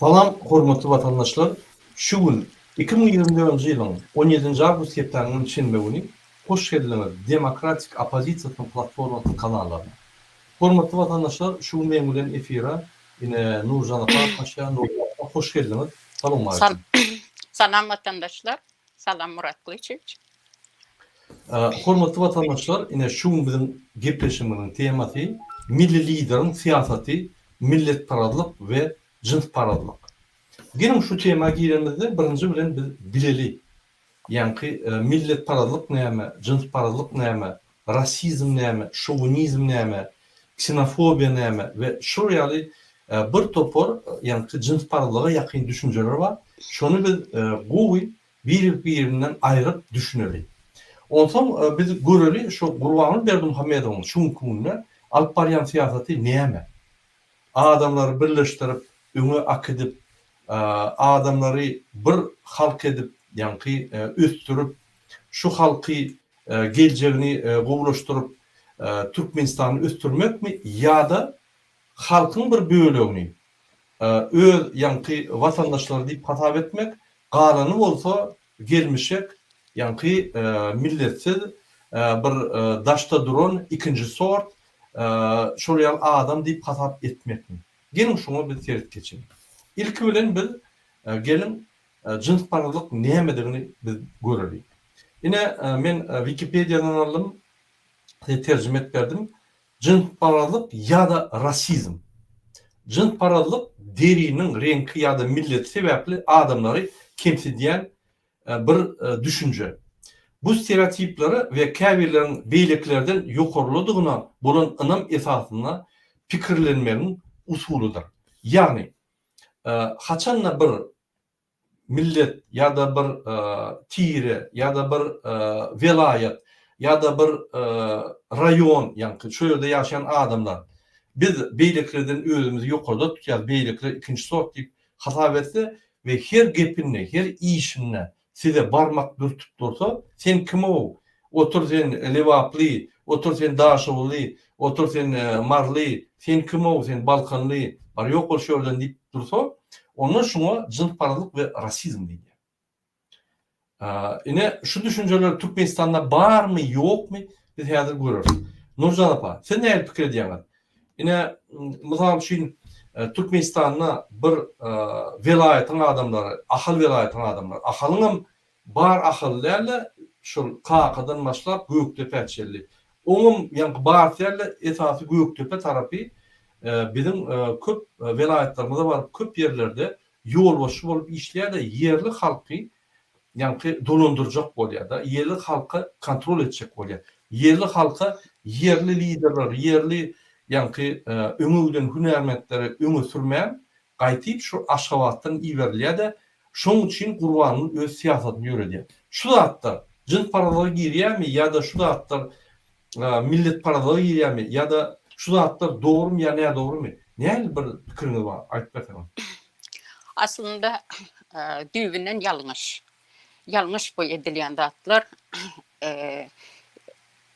Salam, hormatly watandaşlar! Şu gün, iki müň ýigrimi dördünji ýylyň on ýedinji awgust hepdäniňem şenbe güni hoş geldiňiz Demokratik oppozisiýasynyň platformasynyň kanallaryna. Hormatly watandaşlar, şu gün meň bilen efire ine Nurjan apa gatnaşýar. Nurjan apa, hoş geldiňiz. Salowmaleýkim. Salam watandaşlar. Salam Murat Gylyçewiç. Hormatly watandaşlar, ine şu gün biziň gepleşigimiziň temasy Milli Lideriň syýasaty, milletparazlyk we jynsparazlyk. Geliň şu tema giremizde birinji bilen biz bileli, ýaňky milletparazlyk näme, jynsparazlyk näme, rasizm näme, şowinizm näme, ksenofobiýa näme we şular ýaly bir topar ýaňky jynsparazlyga ýakyn düşünjeler bar. Şony biz gowy Biri-birinden aýryp düşüneli. Onsoň biz göreli şu Gurbanguly Berdimuhamedowyň şu günki günde alyp barýan syýasaty näme? Adamlary birleşdirip, öňe akidip, adamlary bir halk edip, ýaňky ösdürip, şu halky geljegini gowulaşdyryp, Türkmenistany ösdürmekmi ýa-da halkyň bir bölegini öz ýaňky watandaşlary diýip hasap etmek, galany bolsa gelmişek ýaňky milletsiz bir daşda duran ikinji sort şol ýaly adam diýip hasap etmekmi? Geliň şuňa biz seret geçeliň. Ilki bilen biz geliň jynsparazlyk nämedigini biz göreliň. Ine men wikipediýadan aldym, size terjime edip berdim. Jynsparazlyk ýa-da rasizm. Jynsparazlyk deriniň reňki ýa-da milleti sebäpli adamlary kemsidýän bir düşünje. Bu stereotiplere we käbirleriň beýlekilerden ýokarlydygyna bolan ynam esasynda pikirlenmegiň usulydyr. Ýagny, haçan-da bir millet ýa-da bir tire ýa-da bir welaýat ýa-da bir raýon ýaňky şu ýerde ýaşaýan adamlar biz beýlekilerden özümizi ýokarda tutýarys beýlekiler ikinji sort diýip hasap etse we her gepinde her işinde size barmak dürtüp dursa sen kim-ow Otur sen Lebaply, otur sen Daşoguzly, otur sen Maryly, sen kim-ow, sen Balkanly, bar ýok bol şu ýerden diýip dursa, onda şuňa jynsparazlyk we rasizm diýilýär. Ine, şu düşünjeler Türkmenistanda barmy, ýokmy, biz häzir göreris. Nurjan apa, siz nähili pikir edýäňiz? Ine, mysal üçin, Türkmenistanda bir welaýatyň adamlary, Ahal welaýatynyň adamlary, Ahalyň hem Bar Ahal däl-de, şol Kakadan başlap Gökdepä çenli. Oňam ýaňky Bars däl-de, esasy Gökdepe tarapy biziň köp welaýatlarymyza baryp, köp ýerlerde ýolbaşçy bolup işleýär-de, ýerli halky ýaňky dolandyrjak bolýar-da, ýerli halka kontrol etjek bolýar. Ýerli halka ýerli liderleri, ýerli ýaňky öňe giden hünärmentleri öňe sürmän, Gaýtyp şu Aşgabatdan iberilýä-de, şoň üçin Gurbangül öz syýasatyny ýöredýär. Şu zatlar jynsparazlyga girýämi ýa-da şu zatlar milletparazlyga girýämi ýa-da şu zatlar dogrumy ýa nädogrumy? Nähili bir pikiriňiz bar, aýdyp berseňiz? Aslynda düýbünden ýalňyş. Ýalňyş bu edilýän zatlar.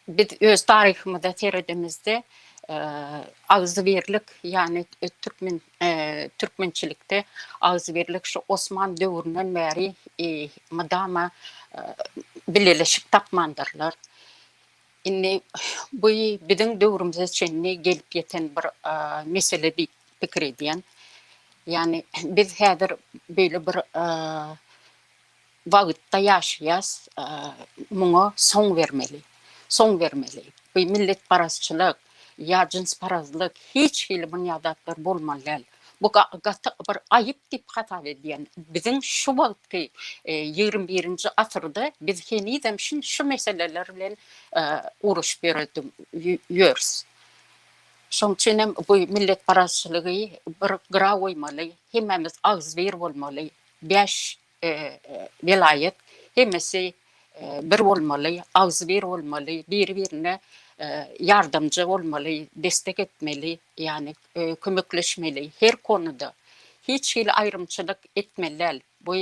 Biz öz taryhymyza seredemizde agzybirlik, ýagny türkmen türkmençilikde agzybirlik şu Osman döwründen bäri mydama bileleşik tapmandyrlar. Indi bu biziň döwrümize çenli gelip ýeten bir mesele diýip pikir edýän. Ýagny biz häzir beýle bir wagtda ýaşaýas, muňa soň bermeli. Soň bermeli. Bu milletparazçylyk, ýa jynsparazlyk, hiç hili bunýa zatlar bolmaly däl. Bu gaty bir aýyp diýip hasap edýän. Biziň şu wagtky ýigrimi birinji asyrda biz henizem şu meseleler bilen ugruşyp ýörüs. Şoň üçinem bu milletparazçylygy bir gyra goýmaly, hemmämiz agzybir bolmaly. Bäş welaýat hemmesi bir bolmaly, agzybir bolmaly, biri-birine ýardamja bolmaly, destek etmeli, ýagny kömekleşmeli her konuda. Hiç hili aýrymçylyk etmeli däl. Bu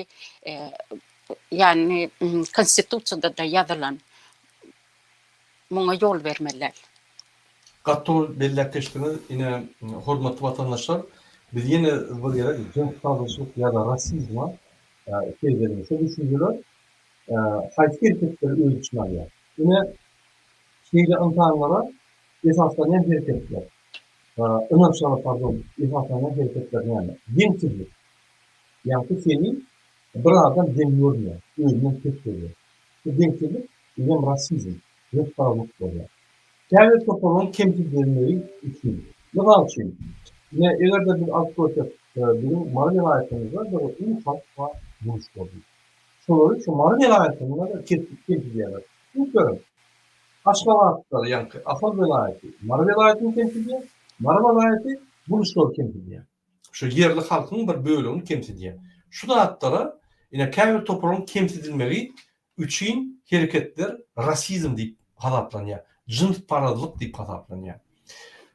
ýagny konstitusiýada-da ýazylan. muňa ýol bermeli däl. Gaty dogry belläp geçdiňiz ine hormatly watandaşlar biz ýene bir gezek jyns dagynyşlyk ýada rasizma seýdeliň şo düşünjeler haýsy herketleri öz içine alýar ine şeýle ynsanlara esaslanýan herketler ynançlara pardon esaslanýan hereketler näme deňsizlik ýagty seni bir adam deň görmeýär özünden pes görýär Bu deňsizlik bizem rasizm, ýokarlyk bolýar. Käbir toparyň kemsidilmegi üçin. Mysal üçin, ine, eger-de biz alyp görsek, biziň Mary welaýatymyzda bir uly halk bar, guruşlar diýip. Şolary şu Mary welaýatynda-da kemsidýärler. Düşünip görüň, Aşgabatda, ýaňky Ahal welaýaty Mary welaýatyny kemsidýär, Mary welaýaty guruşlary kemsidýär. şu ýerli halkyň bir bölegini kemsidýär. Şu zatlara ine käbir toparyň kemsidilmegi üçin hereketler rasizm diýip hasaplanýar, jynsparazlyk diýip hasaplanýar.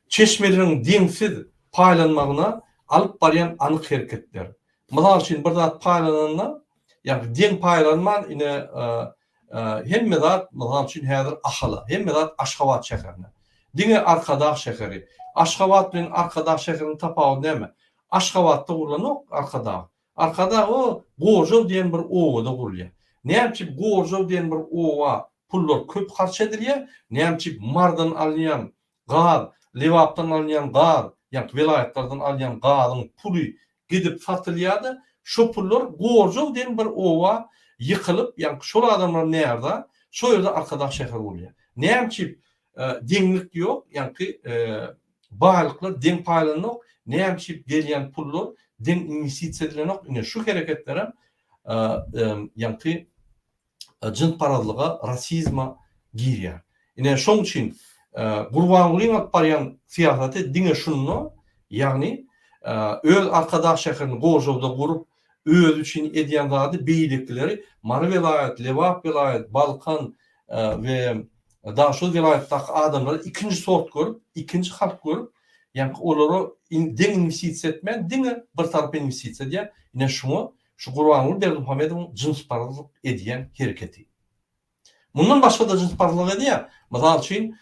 Çeşmeleriň deňsiz paýlanmagyna alyp barýan anyk hereketler. Mysal üçin bir zat paýlananda, ýagny deň paýlanman ine Hemme zat, mysal üçin, häzir Ahala, hemme zat Aşgabat şäherine. Diňe Arkadag şäheri. Aşgabat bilen Arkadag şäheriniň tapawudy näme? Aşgabatda gurlanok Arkadag. Arkadag o Gorjow diýen bir obada gurulýar. Näme üçin Gorjow diýen bir oba pullar köp harç edilýär, näme üçin Marydan alynýan Gaz, Lebapdan alynýan gaz, ýagny welaýatlardan alýan gazyň puly gidip satylýada, şo pullar Gorjow diýen bir oba ýykylyp, ýagny şol adamlar närza, şo ýerde Arkadag şäher bolýar. Näme çip deňlik ýok, ýagny baýlyklar deň paýlanok, näme çip gelýän pullar deň inwestisiýa edilenok, ine şu hereketlerem ýagny jynsparazlyga, rasizme girýär. Ine, şoň üçin Gurbangulyň alyp barýan syýasaty diňe şunda, ýagny öz Arkadag şäherini gožawda gurup, özi üçin edýän zady beýlekileri Mary welaýat, Lebap welaýat, Balkan we Daşoguz welaýatdaky adamlary ikinji sort görüp, ikinji halk görüp, ýaňky olara deň inwestisiýa etmän, diňe bir tarapa inwestisiýa edýär. Ine, şuňa Şu Gurbanguly Berdimuhamedowyň jynsparazlyk edýän hereketi. Mundan başga-da jynsparazlyk edýär. Mysal üçin,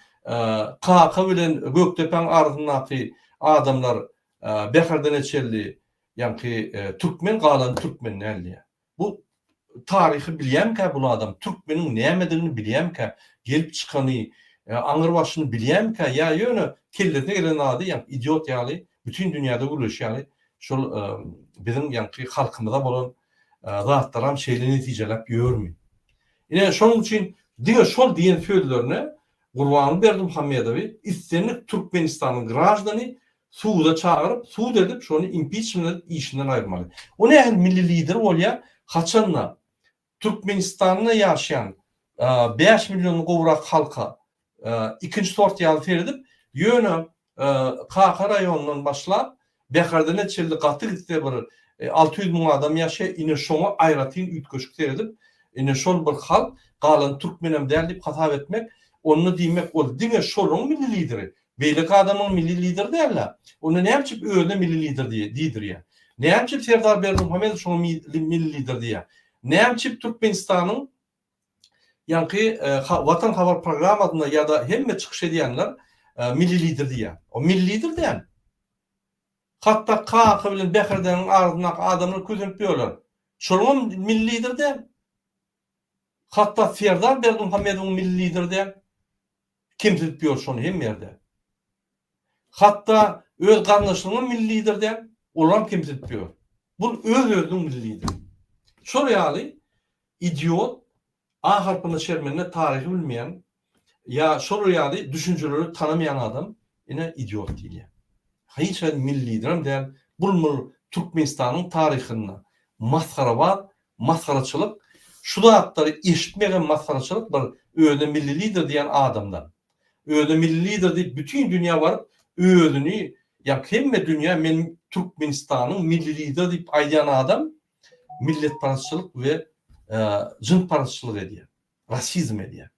Kaka bilen Gökdepäň arasyndaky adamlar Bäherden Eçelli, ýaňky türkmen galan türkmen däl diýýär. Bu taryhy bilýämikä bul adam, türkmeniň nämedigini bilýämikä, gelip çykany, aňyr başyny bilýämikä ýa ýöne kellesine gelen zady ýaňky idiot ýaly, bütin dünýäde gürleşýär ýaly Şol biziň ýaňky halkymyza bolan zatlaram şeýle netijeläp ýörmi? Ine, şonuň üçin diňe şol diýen sözlerine Gurbanguly Berdimuhamedowy islendik Türkmenistanyň graždany suda çagyryp, sud edip, şony impiçment edip işinden aýyrmaly. O nähili milli lider bolýar, haçanda Türkmenistanda ýaşaýan bäş milliondan gowrak halka ikinji sort ýaly seredip, ýöne Kaka raýonyndan başlap, Bäherdene çenli gaty gitse bir alty ýüz müň adam ýaşaýar, ine şoňa aýratyn üýtgeşik seredip, ine şol bir halk, galany türkmenem däl diýip hasap etmek, onda diýmek ol diňe şolaryň milli lideri, Beýleki adamyň milli lider däl-ä. Onda näme üçin özüne milli lider diýdirýär? Näme üçin Serdar Berdimuhamedow şoňa milli lider diýýär? Näme üçin Türkmenistanyň ýaňky Watan habar programmasynda ýa-da hemme çykyş edýänler milli lider diýýär? O milli lider däl. Hatda Kaka bilen Bäherdäniň arasyndaky adamlar kösenip ýörler. Şolaňam milli lider däl. Hatda Serdar Berdimuhamedowyň milli lider däl. Kemsidip ýör şony hemme ýerde. Hatda öz garyndaşlaryňam milli lider däl, olaram kemsidip ýör. Bul öz-özüniň milli lideri. Şol ýaly idiot, A harpyna çermenle taryhy bilmeýän ýa şolar ýaly düşünjeleri tanamaýan adam ine idiot diýilýär. Hiç haýsy milli liderem däl, bul-mul Türkmenistanyň taryhynda masgarabaz Masgaraçylyk şu zatlary eşitmegem masgaraçylyk bir özüne milli lider diýýän adamdan. Özüne milli lider diýip bütin dünýä baryp özüni ýa hemme dünýä men Türkmenistanyň milli lider diýip aýdýan adam milletparazçylyk we jynsparazçylyk edýär. Rasizm edýär.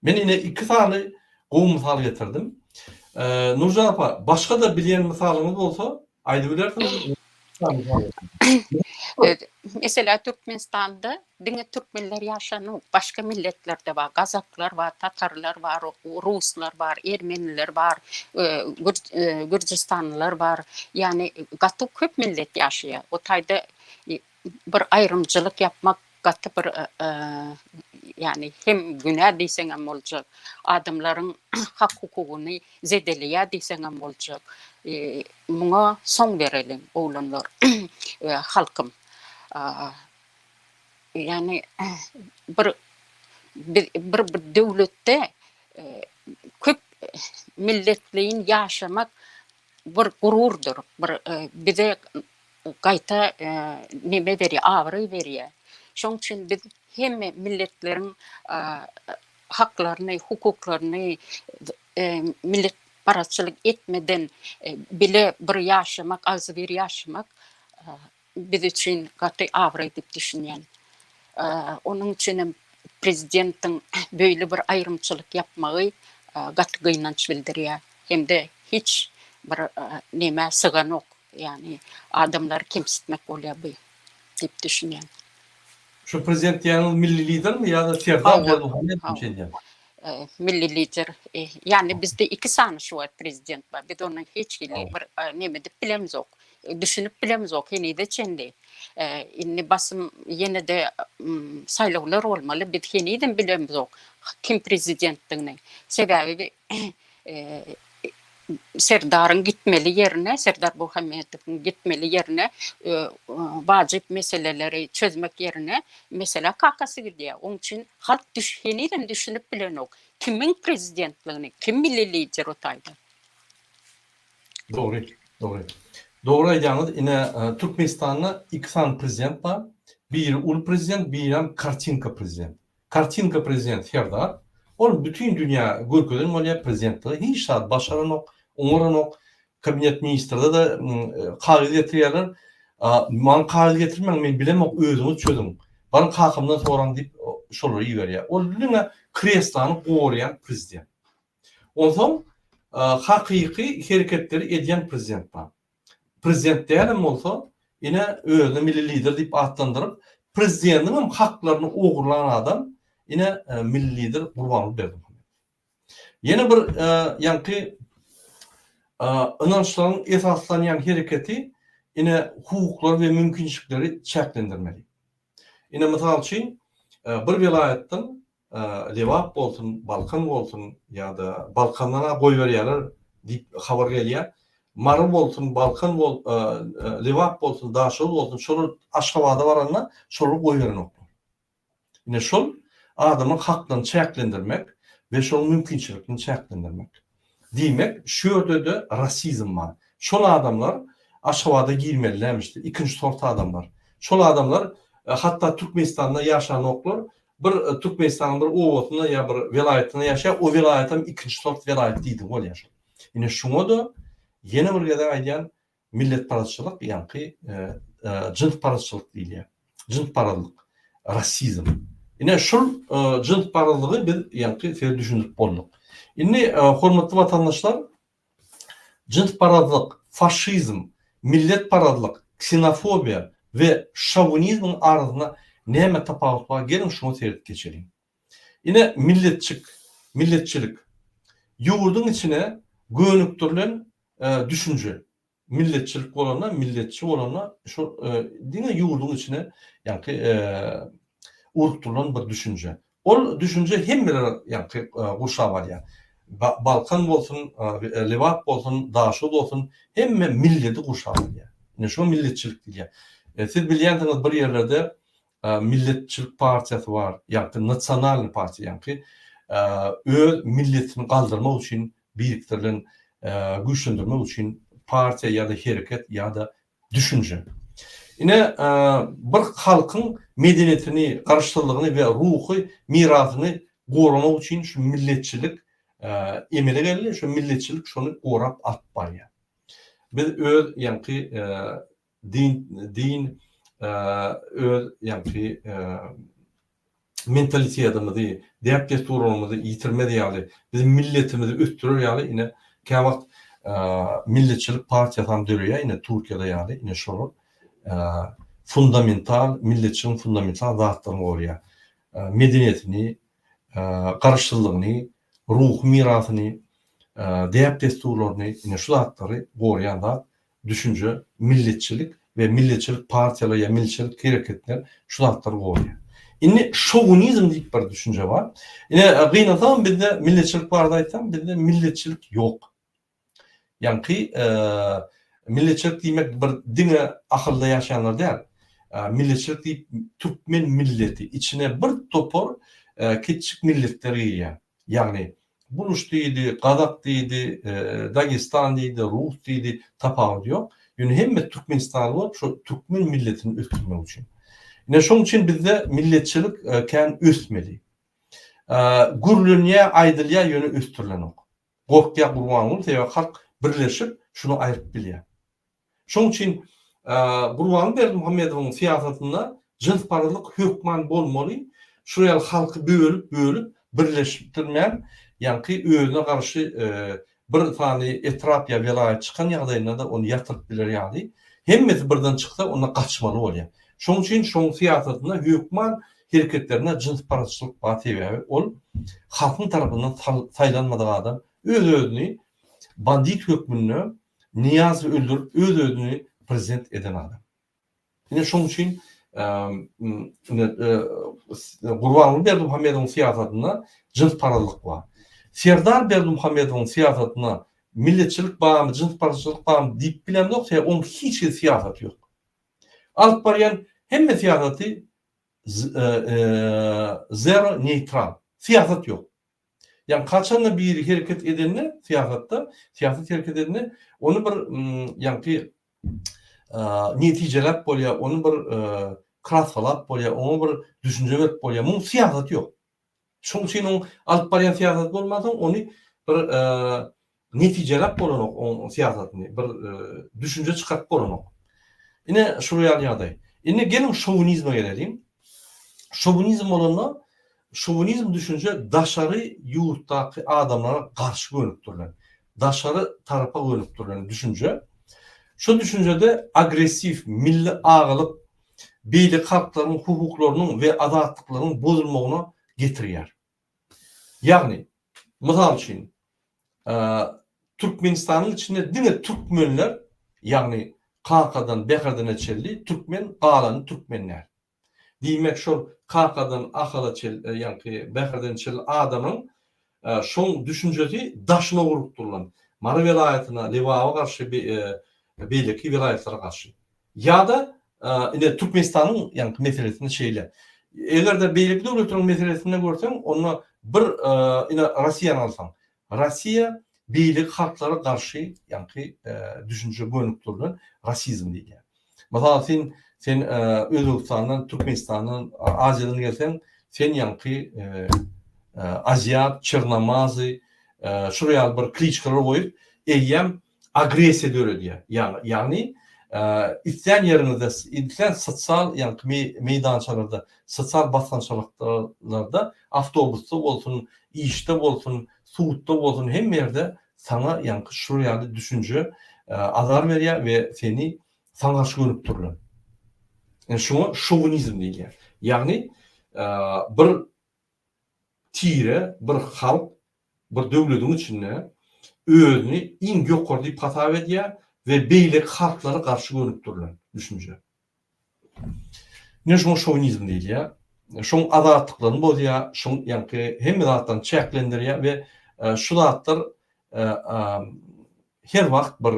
Men ine iki sany gowy mysal getirdim. Nurjan apa, başga-da bilýän mysalyňyz bolsa, aýdybilersiňiz. Meselä Türkmenistanda diňe türkmenler ýaşanok, başga milletler-de bar, gazaklar bar, tatarlar bar, ruslar bar, ermeniler bar, gürjüstanlylar bar. Ýagny gaty köp millet ýaşaýar. O taýda bir aýrymcylyk ýapmak gaty bir ýagny hem günä diýseňem boljak, adamlaryň hak-hukugyny zedeleýär diýseňem boljak. Muňa soň bereliň, oglanlar we halkym. Ýagny bir bir döwletde köp milletleýin ýaşamak bir gururdyr, bir e, bize gaýta e, neme berýär, abraý berýär. Şoň üçin biz hemme milletleriň e, haklaryny, hukuklaryny e, millet parazçylyk etmeden e, bile bir ýaşamak, agzybir ýaşamak e, biz üçin gaty abraý diýip düşünýän. Onuň üçin hem prezidentiň beýle bir aýrymçylyk ýapmagy gaty gynanç bildirýär. Hem-de hiç bir nämä syganok. Ýagny adamlary kemsitmek bolýar bu diýip düşünýän. Şu prezident diýýäniňiz milli lidermi ýa-da Serdar Berdimuhamedow şeýdýär? Milli lider. Ýagny bizde iki sany şu wagt prezident bar. Biz ony hiç hili bir näme diýip bilemzok. Düşünip bilemizok henize çenli. Indi basym ýene-de saýlawlar bolmaly. Biz henizem bilemizok kim prezidentdigini. Sebäbi Serdaryň gitmeli ýerine, Serdar Bohmedowyň gitmeli ýerine wajyp meseleleri çözmek ýerine meselä kakasy gidýär. Oň üçin halk henizem düşünip bilenok kimiň prezidentligini, kim milli lider otaýda. Dogry dogry dogry aýdýaňyz ine türkmenistanda iki sany prezident bar biri uly prezident birem kartinka prezident kartinka prezident serdar ol bütin dünýä görkezen bolýa prezidentligi hiç zat başaranok oňaranok kabinet ministrdede kagyz getirýärler maňa kagyz getirmäň men bilemok özüňiz çözüň baryň kakamdan soraň diýip şolary iberýär ol diňe kreslany gorýan prezident Onsoň hakyky hereketleri edýän prezident bar. Prezident dälem bolsa, ine, özüni milli lider diýip atlandyryp, prezidentiň hem haklaryny ogurlan adam, ine, milli lider Gurbanguly Berdimuhamedow. Ýene bir ýaňky ynançlaryň esaslanýan hereketi, ine, hukuklary we mümkinçilikleri çäklendirmeli. Ine, mysal üçin, bir welaýatdan Lebap bolsun, Balkan bolsun ýa-da Balkandan-a goýberýärler diýip habar gelýär. Mary bolsun, Balkan bol, Lebap bolsun, Daşoguz bolsun şolar Aşgabada baranda şolary goýberenoklar. Ine şol adamyň haklaryny çäklendirmek we şonuň mümkinçiliklerini çäklendirmek. Diýmek, şu ýerde-de rasizm bar. Şol adamlar Aşgabada girmeli nämişde, ikinji sort adamlar. Şol adamlar hatda Türkmenistanda ýaşanoklar, bir Türkmenistanyň bir obasynda ýa bir welaýatynda ýaşaýar, o welaýatam ikinji sort welaýat diýdigi bolýar. Ine şuňa-da ýene bir gezek aýdýan, Milletparazçylyk ýaňky jynsparazçylyk diýilýär. Jynsparazlyk, rasizm. Ine şul jynsparazlygy biz ýaňky size düşündirip bolduk. Indi hormatly watandaşlar jynsparazlyk, faşizm, milletparazlyk, ksenofobiýa we şowinizmiň arasynda näme tapawut bar geliň şuňa seret geçeliň. Ine, milletçik, milletçilik. Ýurduň içine gönükdirilen düşünje. Milletçilik bolanda, milletçi bolanda şol diňe ýurduň içine ýaňky urukdyrylan bir düşünje. Ol düşünje hemmeleri ýaňky gurşap alýar. Balkan bolsun, Lebap bolsun, Daşoguz bolsun, hemme milleti gurşap alýar. Ine, şuňa milletçilik diýilýär. Siz bilýänsiňiz, bir ýerlerde Milletçilik partiýasy bar, ýagty nasionalnyý partiýa, ýagty öz milletini galdyrmak üçin birikdirilen, güýçlendirmek üçin partiýa ýa-da hereket ýa-da düşünje. Ine, bir halkyň medeniýetini, garaşsyzlygyny we ruhy mirasyny goramak üçin şu milletçilik emele geldi, şu milletçilik şony gorap alyp barýar. Biz öz ýagty Din, din öz ýaňky mentalitetimizi, däp-dessurlarymyzy ýitirmez ýaly, biziň milletimizi ösdürer ýaly ine käwagt milletçilik partiýasam döreýär ine Türkiýede ýaly ine şolar fundamental milletçiligiň fundamental zatlaryny goraýar. Medeniýetini, garaşsyzlygyny, ruhy mirasyny, däp-dessurlaryny ine şu zatlary goraýan zat düşünje, milletçilik we milletçilik partiýalar ýa milletçilik hereketler şu zatlary goraýar. Indi şowunizm diýip bir düşünje bar. Ine, gynansagam bizde milletçilik barada aýtsam, bizde milletçilik ýok. Ýaňky milletçilik diýmek bir diňe ahylda ýaşaýanlar däl. Milletçilik diýip türkmen milleti, içine bir topar kitjik milletler girýär. Ýagny, buluş diýdi, gazak diýdi, dagestan diýdi, rus diýdi, tapawudy ýok. Ýöne hemme türkmenistanly bolup, şo türkmen milletini ösdürmek üçin. Ine, şonuň üçin bizde milletçilik kän ösmeli. Gürlenýär, aýdylýar, ýöne ösdürilenok. Gorkýar Gurbanguly, sebäbi halk birleşip, şuny aýryp bilýär. Şoň üçin Gurbanguly Berdimuhamedowyň syýasatynda jynsparazlyk hökman bolmaly, şular ýaly halky bölüp-bölüp birleşdirmän, ýaňky özüne garşy bir sany etrap ýa welaýat çykan ýagdaýynda-da ony ýatyryp biler ýaly, hemmesi birden çyksa onda gaçmaly bolýar. Şoň üçin şoň syýasatynda hökman hereketlerinde jynsparazçylyk bar sebäbi ol halkyň tarapyndan saýlanmadyk adam öz-özüni bandit hökmünde Niýazowy öldürip öz özüni prezident eden adam. Ine şoň üçin Gurbanguly Berdimuhamedowyň syýasatynda jynsparazlyk bar. Serdar Berdimuhamedowyň syýasatynda milletçilik barmy, jynsparazçylyk barmy diýip bilemzok, sebäbi onuň hiç hili syýasaty ýok. Alyp barýan hemme syýasaty zero neýtral. Syýasat ýok. Ýagny haçanda biri hereket edende syýasatda, syýasat hereket edende ony bir ýagny netijeläp bolýar, ony bir krassalap bolýar, oňa bir düşünje berip bolýar. Muň syýasat ýok. Şoň üçin oň alyp barýan syýasaty bolmansoň ony bir Netijeläp bolanok oň syýasatyny, bir düşünje çykaryp bolanok. Ine, şular ýaly ýagdaý. Indi geliň şowinizme geleliň. Şowinizm bolanda, şowinizm düşünje daşary ýurtdaky adamlara garşy gönükdirilen, daşary tarapa gönükdirilen düşünje. Şu düşünjede agressiw, milli agalyk, beýleki halklaryň hukuklarynyň we azatlyklaryň bozulmagyna getirýär. Ýagny, mysal üçin, Türkmenistanyň içinde diňe türkmenler, ýagny kakadan Bäherdine çenli türkmen, galany türkmen däl. Diýmek, şol kakadan Ahala çenli, ýagny Bäherdene çenli adamyň şol düşünjesi daşyna urlupdyr onuň. Mary welaýatyna, Lebaba garşy, beýleki welaýatlara garşy. Ýa-da ine Türkmenistanyň ýaňky meselesinde şeýle. Eger-de beýleki döwletleriň meselesinde görseň, onda bir ine Russiýany alsaň. Russiýa beýleki halklara garşy ýaňky düşünje gönükdirilen rasizm diýilýär. Mysal üçin, sen Özbegistandan, Türkmenistandan, Aziýadan gelseň, sen ýaňky aziýat, çernamazy, şular ýaly bir kliçkalar goýup, eýýäm agressiýa döredýär. Ýaňy, ýagny, islän ýeriňizde, islän sosial, ýagny, meýdançalarda, sosial basgançalyklarda, awtobusda bolsun, işde bolsun, sudda bolsun, hemme ýerde saňa, ýagny, şular ýaly düşünje azar berýär we seni saňa garşy gönükdirilen. Ine, şuňa şowinizm diýilýär. Ýagny, bir tire, bir halk bir döwlediň içinde özüni iň ýokary diýip hasap edýär we beýleki halklary garşy gönükdirilen düşünje. Ine şoňa şowinizm diýilýär. Şoň azatlyklaryny bozýar, şoň ýaňky hemme zatlaryny çäklendirýär we şu zatlar her wagt bir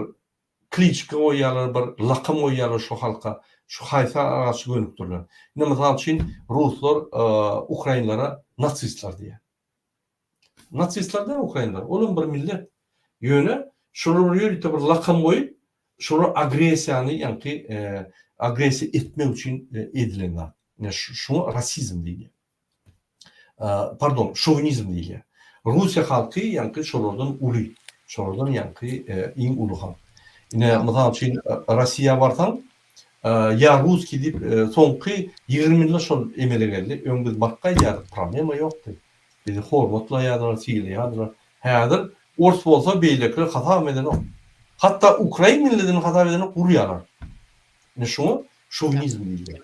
kliçka goýýarlar, bir lakam goýýarlar şu halka, şu haýsar garşy gönükdirilen. Ine mysal üçin ruslar ukrainlere natsistler diýýär. Natsistler däl ukrainler, olam bir millet. Ýöne şolar ýörite bir lakam goýup, şolar agressiýany ýaňky agressiýa etmek üçin edilen zat. Ine şuňa rasizm diýilýär. Pardon, şownizm diýilýär. Russiýa halky ýaňky şolardan uly, şolardan ýaňky iň uly halk. Ine mysal üçin Rossiýa barsaň, Ýa russkiý diýip soňky ýigrimi ýylda şol emele geldi, öň biz bakga aýdýardyk problema ýokdy, bizi hormatlaýardylar, sylaýardylar, häzir ors bolsa beýlekiler hasabam edenok, hatda ukrain milletini hasap edenok urýarlar, ine şuňa şovinizm diýilýär.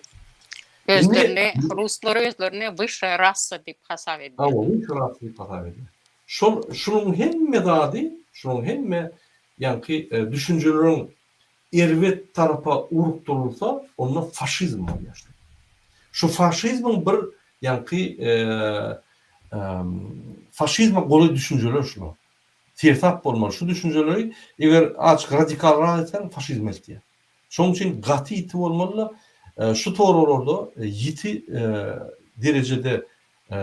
Özlerini ruslar özlerini wyşşaýa rassa diýip hasap edýär. Hawa wyşşaýa rassa diýip hasap edýär. Şol şunuň hemme zady şunuň hemme ýaňky düşünjeleriň erbet tarapa urukdyrylsa, onda faşizm bolýar. Şu faşizmiň bir ýaňky faşizme golaý düşünjeler şular. Seresap bolmaly şu düşünjeleri, eger azyk radikalrak etseň faşizm eltýär. Şonuň üçin gaty ýiti bolmaly-da, şu toraglarda ýiti derejede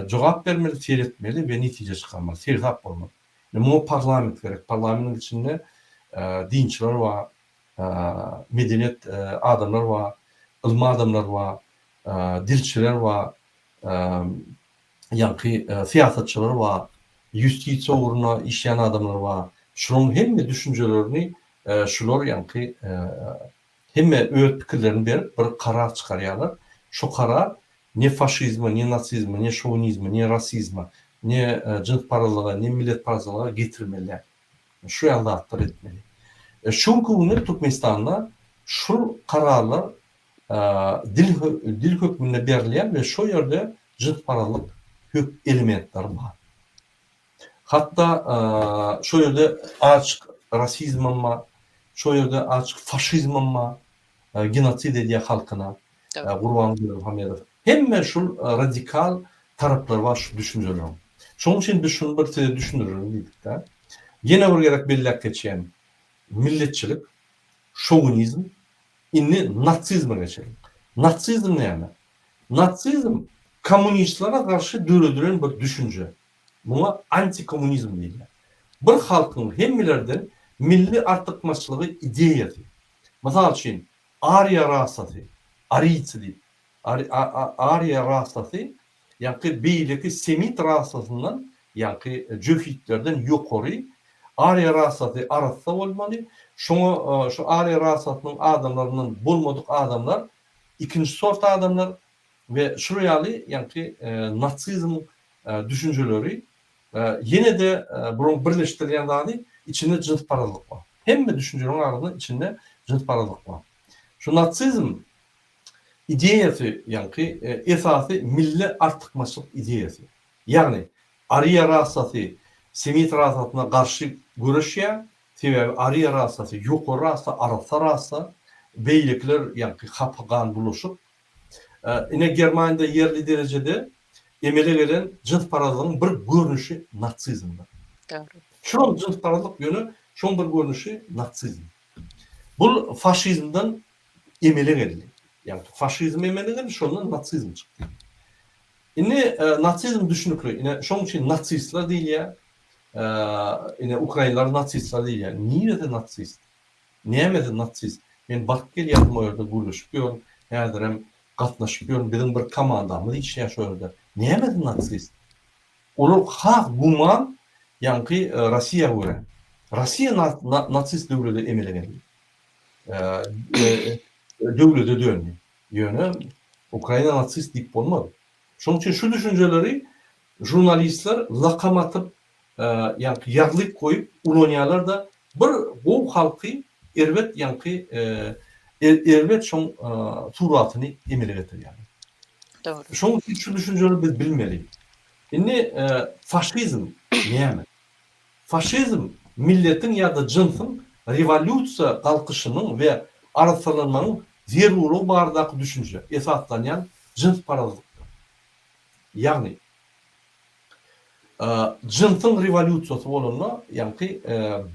jogap bermeli, seretmeli we netije çykarmaly, seresap bolmaly. Indi muňa parlament gerek. Parlamentiň içinde dinçiler bar, medeniýet adamlar bar, ylym adamlar bar, dilçiler bar, ýaňky syýasatçylar bar, ýustisiýa ugrunda işleýän adamlar bar. Şularyň hemme düşünjelerini şular ýaňky Hemme öz pikirlerini berip, bir karar çykarýarlar. Şo karar ne faşizme, ne nasizme, ne şowinizme, ne rasizme, ne jynsparazlyga, ne milletparazlyga getirmeli däl. Şu ýaly zatlar etmeli. Şu günki günde Türkmenistanda şul kararlar dil dil hökmünde berilýär we şo ýerde jynsparazlyk hök elementleri bar. Hatda şo ýerde açyk rasizmem bar, şo ýerde açyk faşizmem bar, genosid edýär halkyna Gurban Berdimuhamedow. Hemme şul radikal taraplary bar şu düşünjeleriň. Şonuň üçin biz şuny bir size düşündirelim diýdik-de. Ýene bir gezek belläp geçýän, milletçilik, şowinizm, indi nasizme geçeliň. Nasizm näme? Nasizm kommunistlere garşy döredilen bir düşünje. Muňa antikommunizm diýilýär. Bir halkyň hemmelerden milli artykmaçlygy ideýasy. Mysal üçin, ariýa rasasy, ariýci diýip, ariýa rasasy, ýaňky beýleki semit rasasyndan, ýaňky jöhitlerden ýokary, ariýa rasasy arassa bolmaly, şoňa şu ariýa rasasynyň adamlaryndan bolmadyk adamlar ikinji sort adamlar, we şular ýaly ýaňky nasizm düşünjeleri ýene-de bularyň birleşdirýän zady içinde jynsparazlyk bar. Hemme düşünjeleriň arasynda içinde jynsparazlyk bar. Şu nasizm ideýasy ýaňky esasy milli artykmaçlyk ideýasy. Ýagny ariýa rasasy semit rasasyna garşy göreşýär, sebäbi ariýa rasasy ýokary rasa, arassa rasa, beýlekiler ýaňky hapa gan bulaşyk, Ine, Germaniýada ýerli derejede emele gelen jynsparazlygyň bir görnüşi natsizmdir. Dogry. Şuram jynsparazlyk, ýöne şoň bir görnüşi natsizm. Bul faşizmden emele geldi. Ýagny faşizm emele geldi, şondan natsizm çykdy. Indi natsizm düşnükli. Ine, şoň üçin natsistler diýilýär. Ine, ukrainler natsistler diýilýär. Niresi natsist? Näme siz natsist? Men baryp gelýädim o ýerde gürleşip ýörün, häzirem gatnaşyp ýörün, biziň bir komandamyz işleýär şo ýerde. Näme siz natsist? Olar has güman ýaňky Rossiýa görä. Rossiýa natsist döwlede emele geldi. Döwlede döndi. Ýöne Ukraina natsist diýip bolmaz. Şonuň üçin şu düşünjeleri žurnalistler lakam atyp ýaňky ýazlyk goýup ulanýarlarda bir gowy halky erbet ýaňky erbet şoň suratyny emele getirýär. Dogry. Şoň üçin şu düşünjeni biz bilmeli. Indi faşizm näme? Faşizm milletiň ýa-da jynsyň rewolýusiýa galkyşynyň we arassalanmagyň zerurlygy baradaky düşünje esaslanýan jynsparazlykdyr. Ýagny. Jynsyň rewolýusiýasy bolanda, ýagty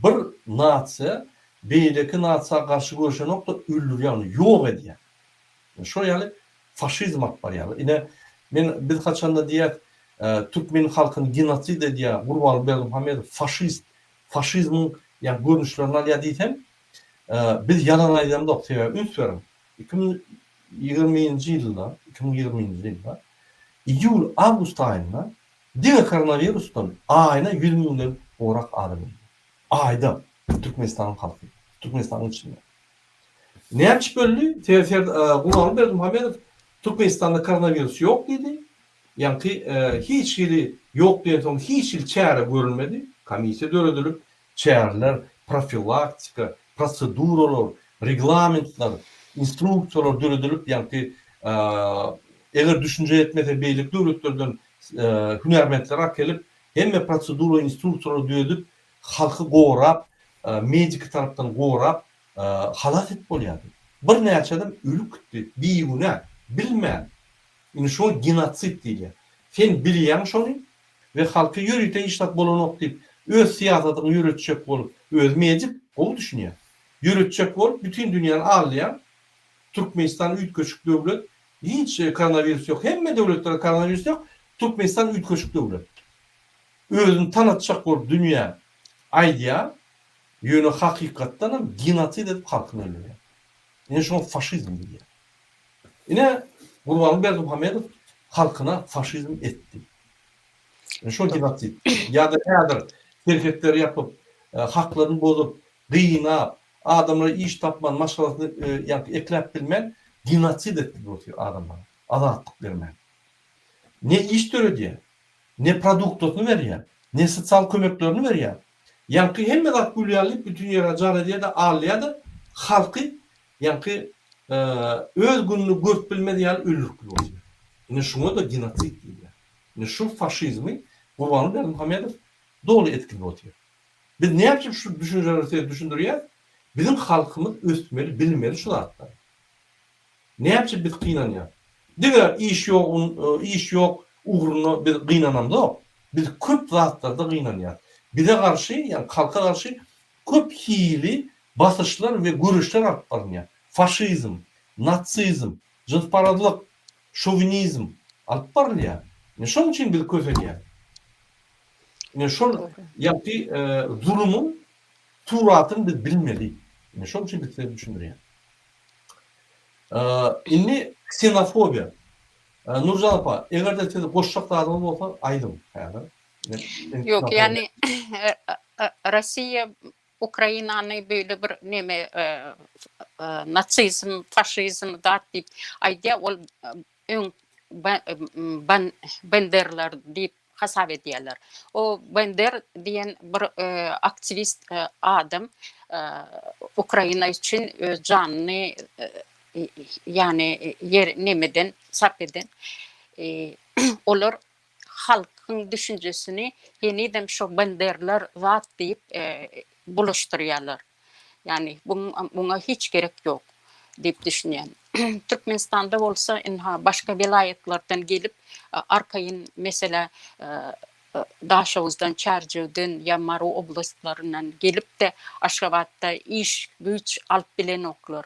bir nasiýa beýleki nasiýa garşy göreşenokda öldürýär, ýagny ýok edýär. Şol ýaly faşizm alyp barýarlar. Ine, men biz haçanda diýýäs, türkmen halkyny genosid edýär, Gurbanguly Berdimuhamedow faşist, faşizmiň ýa görnüşlerini alýar diýsem, biz ýalan aýdamzok, sebäbi üns beriň, Iki müň ýigriminji ýylda, iki müň ýigriminji ýylda iýul, awgust aýynda diňe koronawirusdan aýyna ýüz müňden gowrak adam ölýär. Aýda, Türkmenistanyň halky, Türkmenistanyň içinde. Näme üçin öldi? Sebäbi Gurbanguly Berdimuhamedow Türkmenistanda koronawirus ýok diýdi. Ýaňky hiç hili ýok diýensoň hiç hili çäre görülmedi. Komissiýa döredilip, Çäreler, profilaktika, proseduralar, reglamentler, instruksiýalar döredilip, ýagty eger düşünje ýetmese beýleki döwletlerden hünärmentleri akelip, hemme prosedura, instruksiýalary düedip, halky gorap, mediki tarapdan gorap, halas edip bolýardy. Birnäçe adam ölüp gitdi, bigünä, bilmän. Indi şuňa genotsid diýilýär. Sen bilýäň şony, we halky ýörite işlap bolanok diýip öz syýasatyňy ýöretjek bolup özi mejip gowy düşünýän ýöretjek bolup bütin dünýäni aldaýaň Türkmenistan üýtgeşik döwlet hiç koronawirus ýok hemme döwletlerde koronawirus ýok Türkmenistan üýtgeşik döwlet özüni tanatjak bolup dünýä aýdýaň ýöne hakykatdanam genosid edip halkyny öldürýäň ine şoňa faşizm diýýär Ine, Gurbanguly Berdimuhamedow halkyna faşizm etdi. Ine şol genosid. Ýa-da häzir serhetleri ýapyp, haklaryny bozup, gynap, adamlara iş tapman, maşgalasyny ýa-da ekläp bilmän, genosid etdi bu adamlara, azatlyk bermän. Ne iş döredýär, ne produktasyny berýär, ne sosial kömeklerini berýär. Ýaňky hemme zat gülýär diýip, bütin ýere jar edýär-de, alýar-da, halky Ýaňky öz gününi görüp bilmez ýaly öldüripdir bolsa. Ine şuňa-da genosid diýilýär. Ine şu faşizmi Gurbanguly Berdimuhamedow doly etkilip otyr. Biz näme üçin şu düşünjeleri size düşündirýäs? Biziň halkymyz ösmeli, bilmeli şu zatlary. Näme üçin biz gynanýas? Diňe iş ýok, iş ýok ugrunda biz gynanamzok. Biz köp zatlarda gynanýas. Bize garşy, ýagny halka garşy Köp hili basyşlar we göreşler alyp barylýar. Faşizm, natsizm, jynsparazlyk, şowinizm alyp barylýar. Ine şoň üçin biz kösenýäs. Ine şol ýaňky zulumyň suratyny biz bilmeli. Ine şoň üçin biz size düşündirýän. Indi ksenofobiýa. Nurjan apa, eger-de siz goşjak zadyňyz bolsa, aýdyň häzir. Ýok, ýagny Russiýa Ukrainany beýle bir neme natsizm, faşizm dat diýip aýdýar, ol öň Benderler diýip hasap edýärler. O Bender diýen bir aktiwist adam Ukraina üçin öz janyny ýagny ýer nemeden sarp eden. Olar halkyň düşünjesini henizem şo banderler zat diýip bulaşdyrýarlar. Ýagny muňa hiç gerek ýok diýip düşünýän. Türkmenistanda bolsa ynha başga welaýatlardan gelip arkaýyn meselä Daşoguzdan, Çärjewden ýa Mary oblastlaryndan gelip-de Aşgabatda iş güýç alyp bilenoklar.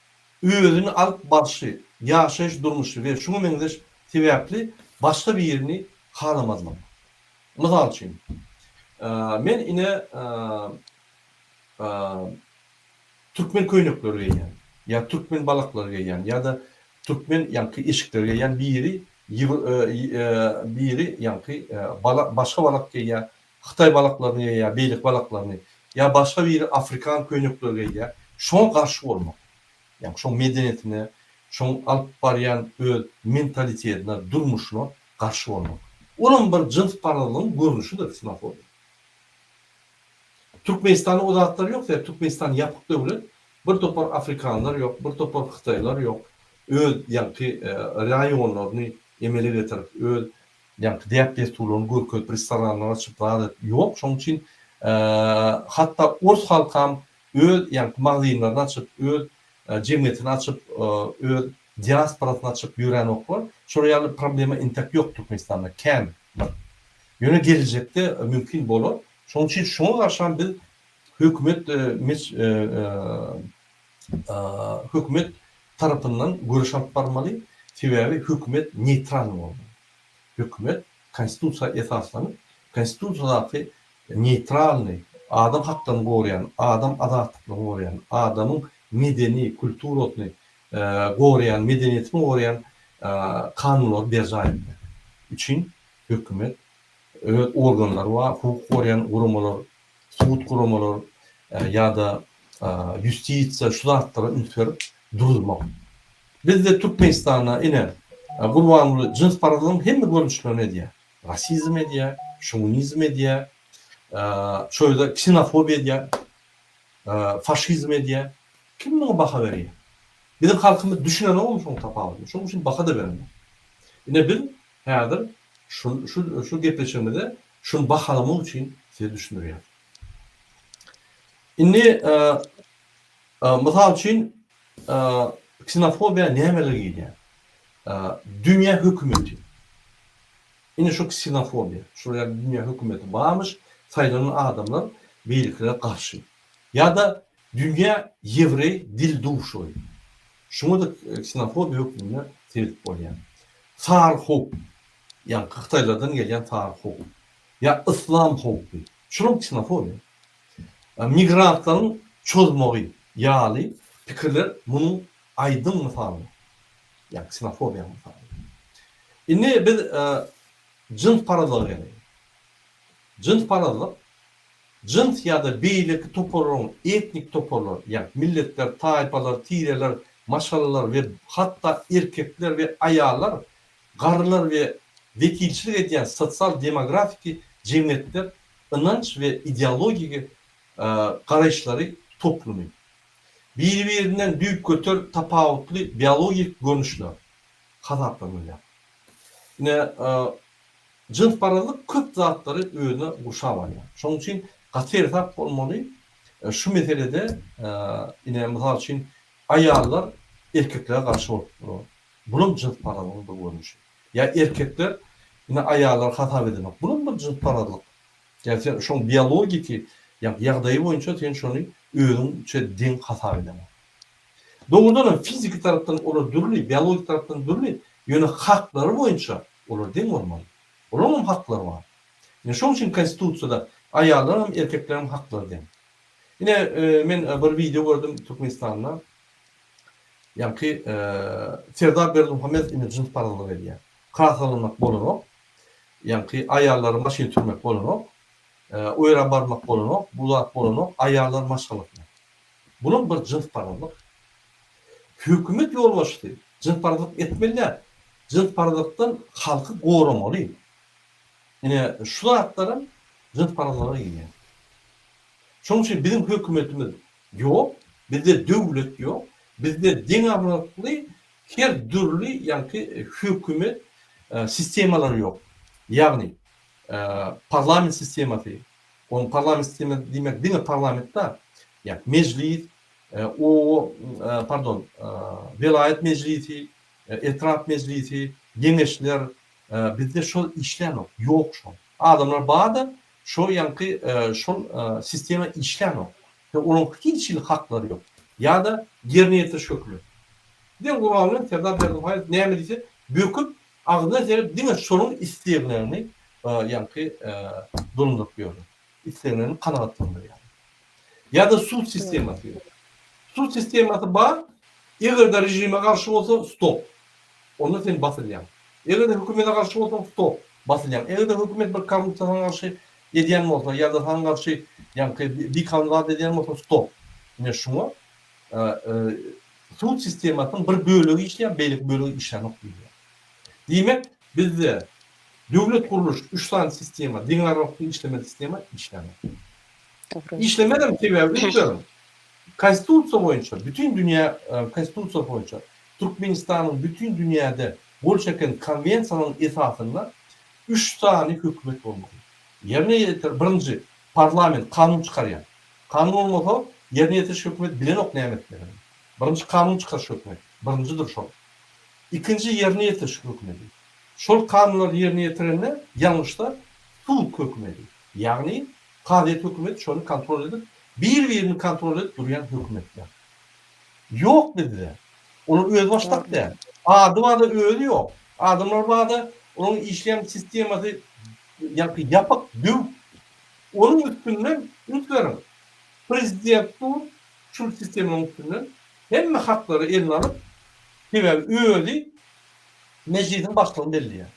özüni alyp barşy, ýaşaýyş durmuşy we şuňa meňzeş sebäpli başga birini halamazlyk. Mysal üçin, men ine türkmen köýnekleri geýýän ýa türkmen balaklary geýýän ýa-da türkmen ýaňky eşikleri geýýän biri biri ýaňky bala başga balak geýýär Hytaý balaklaryny ýa-ýa beýleki balaklaryny, ýa başga biri afrikan köýnekleri geýýär, şoňa garşy bolmak, ýaňy şoň medeniýetine, şoň alyp barýan öz mentalitetine, durmuşyna garşy bolmak. Olam bir jyns parazlygyň görnüşidir ksenofobiýa. Türkmenistanda o zatlar ýok, sebäbi Türkmenistan ýapyk döwlet, bir topar afrikanlar ýok, bir topar hytaýlar ýok, öz ýaňky raýonlaryny emele getirip, öz Ýaňky däp-dessurlaryny görkezip restoranlar açyp zat edip ýok şoň üçin hatda ors halkam öz ýaňky magazynlaryny açyp öz jemgyýetini açyp öz diasporasyny açyp ýöränoklar şolar ýaly problema intäk ýok türkmenistanda kän bir ýöne geljekde mümkin bolar şoň üçin şoňa garşam biz hökümet hökümet tarapyndan göreş alyp barmaly, sebäbi hökümet neýtral bolmaly. Hökümet konstitusiýa esaslanyp, konstitusiýadaky neýtralny, adam haklaryny goraýan, adam azatlyklygyny goraýan, adamyň medeni, kulturasyny goraýan, medeniýetini goraýan kanunlary berjaý etmek üçin hökümet, öz organlary bar, hukuk goraýan guramalar sud guramalar ýa-da ýustisiýa şu zatlara üns berip duruzmak. Bizde Türkmenistanda ine Gurbanguly jynsparazlygyň hemme görnüşlerini edýär. Rasizm edýär, şownizm edýär, şo ýerde ksenofobiýa edýär, faşizm edýär. Kim muňa baha berýär? Biziň halkymyz düşünenogmy şoň tapawudyny? Şoň üçin baha-da berenok. Ine biz häzir şu şu şu gepleşigimize Şuny bahalamak üçin size düşündirýän. Indi mysal üçin ksenofobiýa nämeler girýär? Dünýä hökümeti. Indi şu ksenofobiýa, şu ýerde dünýä hökümeti barmyş, saýlanan adamlar beýlekilere garşy. Ýa-da dünýä ýewreý dil duşary. Şuňa-da ksenofobiýa hökmünde seredip bolýar. Saryhop, Ýaňky hytaýlardan gelýän sary howp. Ýa yslam howpy. Şunuň ksenofoniýa. Migrantlaryň çozmagy ýaly pikirler munuň aýdyň mysaly. Ýa ksenofobiýanyň mysaly. Indi biz jynsparazlyga geleýin. Jynsparazlyk jyns ýa-da beýleki toparlaryň, etnik toparlar, ýa milletler, taýpalar, tireler, maşgalalar we hatda erkekler we aýallar Garrylar we wekilçilik edýän sosial-demografiki jemgyýetler ynanç we ideologik garaýyşlary toplumy. Biri-birinden düýpgöter tapawutly biologik görnüşler hasaplanylýar. Ine, jynsparazlyk köp zatlary özüne gurşap alýar. Şonuň üçin gaty ersap bolmaly şu meselede, ine, mysal üçin, aýallar erkeklere garşy bolup durar. Bulam jynsparazlygyň bir görnüşi. Ýa erkekler ine aýallary hasap edemek. Bulam bir jynsparazlyk. Ýa sen şoň biologiki ýa ýagdaýy boýunça sen şony özüňçe deň hasap edemek. Dogrudan hem fiziki tarapdan olar dürli, biologiki tarapdan dürli, ýöne haklary boýunça olar deň bolmaly. Olaryň hem haklary bar. Ine şoň üçin konstitusiýada aýallaryň hem erkekleriň hem haklary deň. Ine men bir wideo gördüm Türkmenistanda Ýaňky Serdar Berdimuhamedow indi jyns parazlyk edýär. Krasowlamak bolanok. Ýaňky aýallary maşyn sürmek bolanok. O ýere barmak bolanok. Bu zat bolanok. Aýallar maşgalasyna. Bulam bir jyns parazlyk. Hökümet ýolbaşçysy jyns parazlyk etmeli däl. Jyns parazlykdan halky goramaly. Ine şu zatlaram jyns parazlyga girýär. Şonuň üçin biziň hökümetimiz Ýok, bizde döwlet ýok, bizde deňagrakly her dürli ýaňky hökümet sistemalary ýok. Ýagny, parlament sistemasy, onuň parlament sistemasy diýmek diňe parlament dal, ýa mejlis, o, pardon, welaýat mejlisi, etrap mejlisi, geňeşler, bizde şol işlänok, ýok şol. Adamlar bar-da, Şo ýaňky şol sistema işlänok we onuň hiç hili haklary ýok. Ýa-da ýerine ýetiriş hökümi. Diýen guraly bilen Serdar Berdimuhamedow näme diýse, böküp, agzyna serip diňe şonuň isleglerini ýaňky dolandyryp ýörler. Isleglerini kanagatlandyrýarlar. Ýa-da sud sistemasy. Sud sistemasy bar, eger-de režime garşy bolsa, stop. Onda sen basylýaň. Eger-de hökümete garşy bolsaň, stop, basylýaň. Eger-de hökümet bir korrupsiýa saňa garşy edýän bolsa, ýa-da saňa garşy ýaňky bikanun zat edýän bolsa, stop. Ine şuňa sud sistemasynyň bir bölegi işleýär, beýleki bölegi işlänok diýilýär. Diýmek, bizde döwlet gurluş üç sany sistema, deňagramlykda işlemeýän sistema işlänok. Işlemezem sebäbi öýtdürin. Konstitusiýa boýunça, bütin dünýä konstitusiýasy boýunça Türkmenistanyň bütin dünýäde gol çeken konwensiýalarynyň esasynda üç sany hökümet bolmaly. Ýerine ýetir, birinji, parlament, kanun çykarýan. Kanun bolmasa, ýerine ýetiriş hökümet bilenok näme etmegini. Birinji kanun çykaryş hökümeti, birinjidir şol. Ikinji ýerine ýetiriş hökümeti. Şol kanunlary ýerine ýetirende ýalňyşsa sud hökümeti. Ýagny Kazyýet hökümet şony kontrol edip bir birini kontrol edip durýan hökümetler ýok bizde olar öz başdak däl ady barda özi ýok adamlar barda onuň işleýän sistemasy ýaňky ýapyk düw onuň üstünden üns beriň prezident dur şul sistemanyň üstünden hemme haklary eline alyp sebäbi özi mejlisiň başlygyny belleýär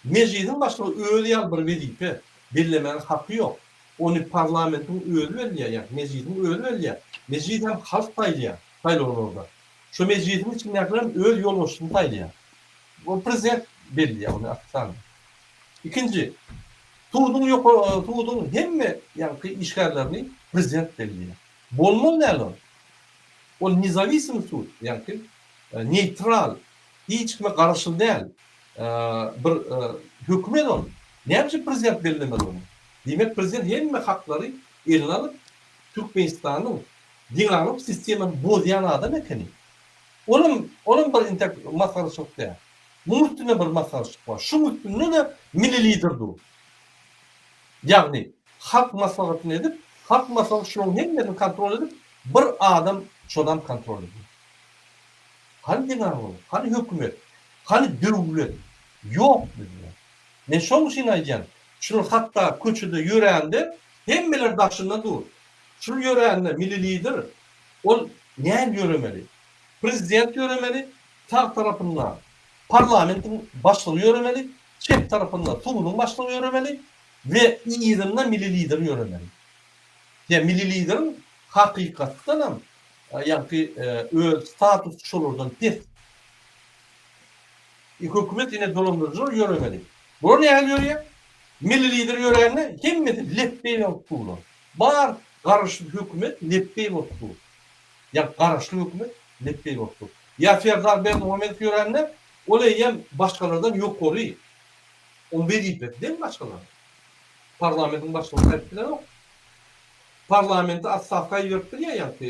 Mejlisiň başlygy özi ýaly bir wezipe bellemäge haky ýok. Ony parlamentiň özi belleýär, ýagny Mejlisiň özi belleýär. Mejlis hem halk saýlaýar saýlawlarda. Şo Mejlisiň içindäkilerem öz ýolbaşçysyny saýlaýar. Ol prezident belleýär ony ofitsialny. Ikinji, suduň ýoka, suduň hemme ýaňky işgärlerini prezident belleýär. Bolmaly däl ol. Ol nezawisimý sud, ýaňky neýtral Hiç kime garaşly däl. Bir hökümet ol. Näme üçin prezident bellemez ony? Diýmek prezident hemme haklary eline alyp Türkmenistanyň deňaglyk sistemany bozýan adam ekeni. Olam olam bir intek masgaraçylyk däl. Muň üstünde bir masgaraçylyk bar. Şuň üstünde-de milli lider dur. Ýagny halk maslahatyny edip, halk maslahaty şulaň hemmesini kontrol edip bir adam çozan kontrol edýär. Hany zenan-oglum, hany hökümet, hany döwlet? Ýok bizde. Men şoň üçin aýdýan, şul hatda köçede ýörände hemmeler daşynda dur. Şul ýörände Milli Lider, ol näm ýöremeli? Prezident ýöremeli, sag tarapynda parlamentiň başlygy ýöremeli, çep tarapynda suduň başlygy ýöremeli we yzynda Milli Lider ýöremeli. Ýa Milli Lideriň hakykatdanam Ýagty öz statusy şolardan pes. E hökümet ine dolandyryjylar ýöremeli. Bular nähili ýörýär? Milli lider ýörände hemmesi lepbeý bolup durlar. Bar garaşsyz hökümet lepbeý bolup dur. Ýa garaşly hökümet lepbeý bolup dur. Ýa Serdar Berdimuhamedow ýörände ol eýýäm başgalardan ýokary. Onuň wezipesi deň başgalaryň. Parlamentiň başlygynyň häsiýeti bilenok. Parlamenti ostavka iberip bilýä ýaňky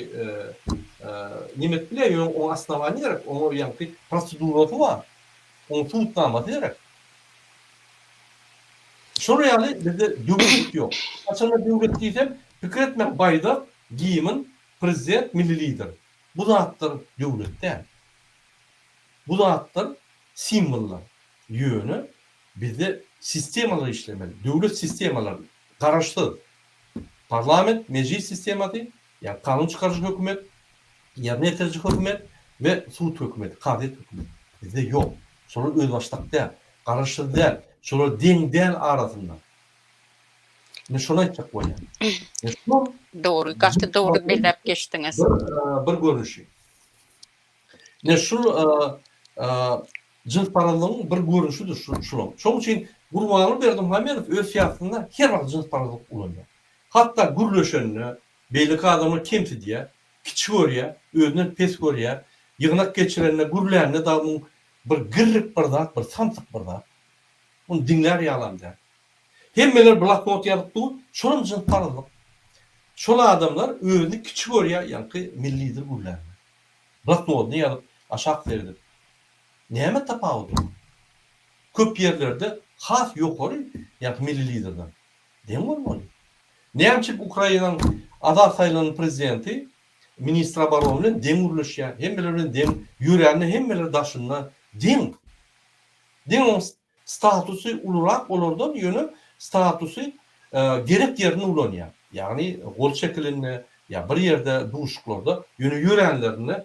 neme edip bilýä ýöne oňa osnowaniýa gerek oňa ýaňky prosedurasy bar oň subutnamasy gerek. Şolar ýaly bizde döwlet ýok. Haçanda döwlet diýsem pikir etmäň baýdak, gimn, prezident, milli lider. Bu zatlar döwlet däl. Bu zatlar simwollar. Ýöne bizde sistemalar işlemeli. Döwlet sistemalar Garaşsyz, parlament, mejlis sistemasy, ýa kanun çykaryjy hökümet, ýerine ýetiriji hökümet we sud hökümeti, kazyýet hökümeti. Bizde ýok. Şolar özbaşdak däl. Garaşsyz däl. Şolar deň däl arasynda. Men şony aýtjak bolýan. Dogry, gaty dogry belläp geçdiňiz. Bir görnüşi. Ine şul jynsparazlygyň bir görnüşidir şular. Şoň üçin Gurbanguly Berdimuhamedow öz syýasatynda her wagt jynsparazlyk ulanýar. Hatda gürleşende beýleki adamy kemsidýär, kiçi görýär, özünden pes görýär. Ýygnak geçirende, gürlände dagy muň bir girrik bir zat, bir samsyk bir zat. Muny diňlär ýalam däl. Hemmeler bloknot ýazyp dur, şolam jynsparazlyk. Şol adamlar özüni kiçi görýär, ýaňky milli lider gürlände. Bloknodyna ýazyp, aşak seredip, Näme tapawudy bar? Köp ýerlerde has ýokary, ýa-da milli liderden deň bolmaly. Näme üçin Ukrainanyň azat saýlanan prezidenti ministr obrony bilen deň gürleşýär, hemmeler bilen deň ýörände hemmeler daşynda deň? Deň oňs. Statusy ulurak bolardan, ýöne statusy gerek ýerinde ulanýar. Ýagny gol çekilende ýa bir ýerde duşuklarda, ýöne ýöränlerinde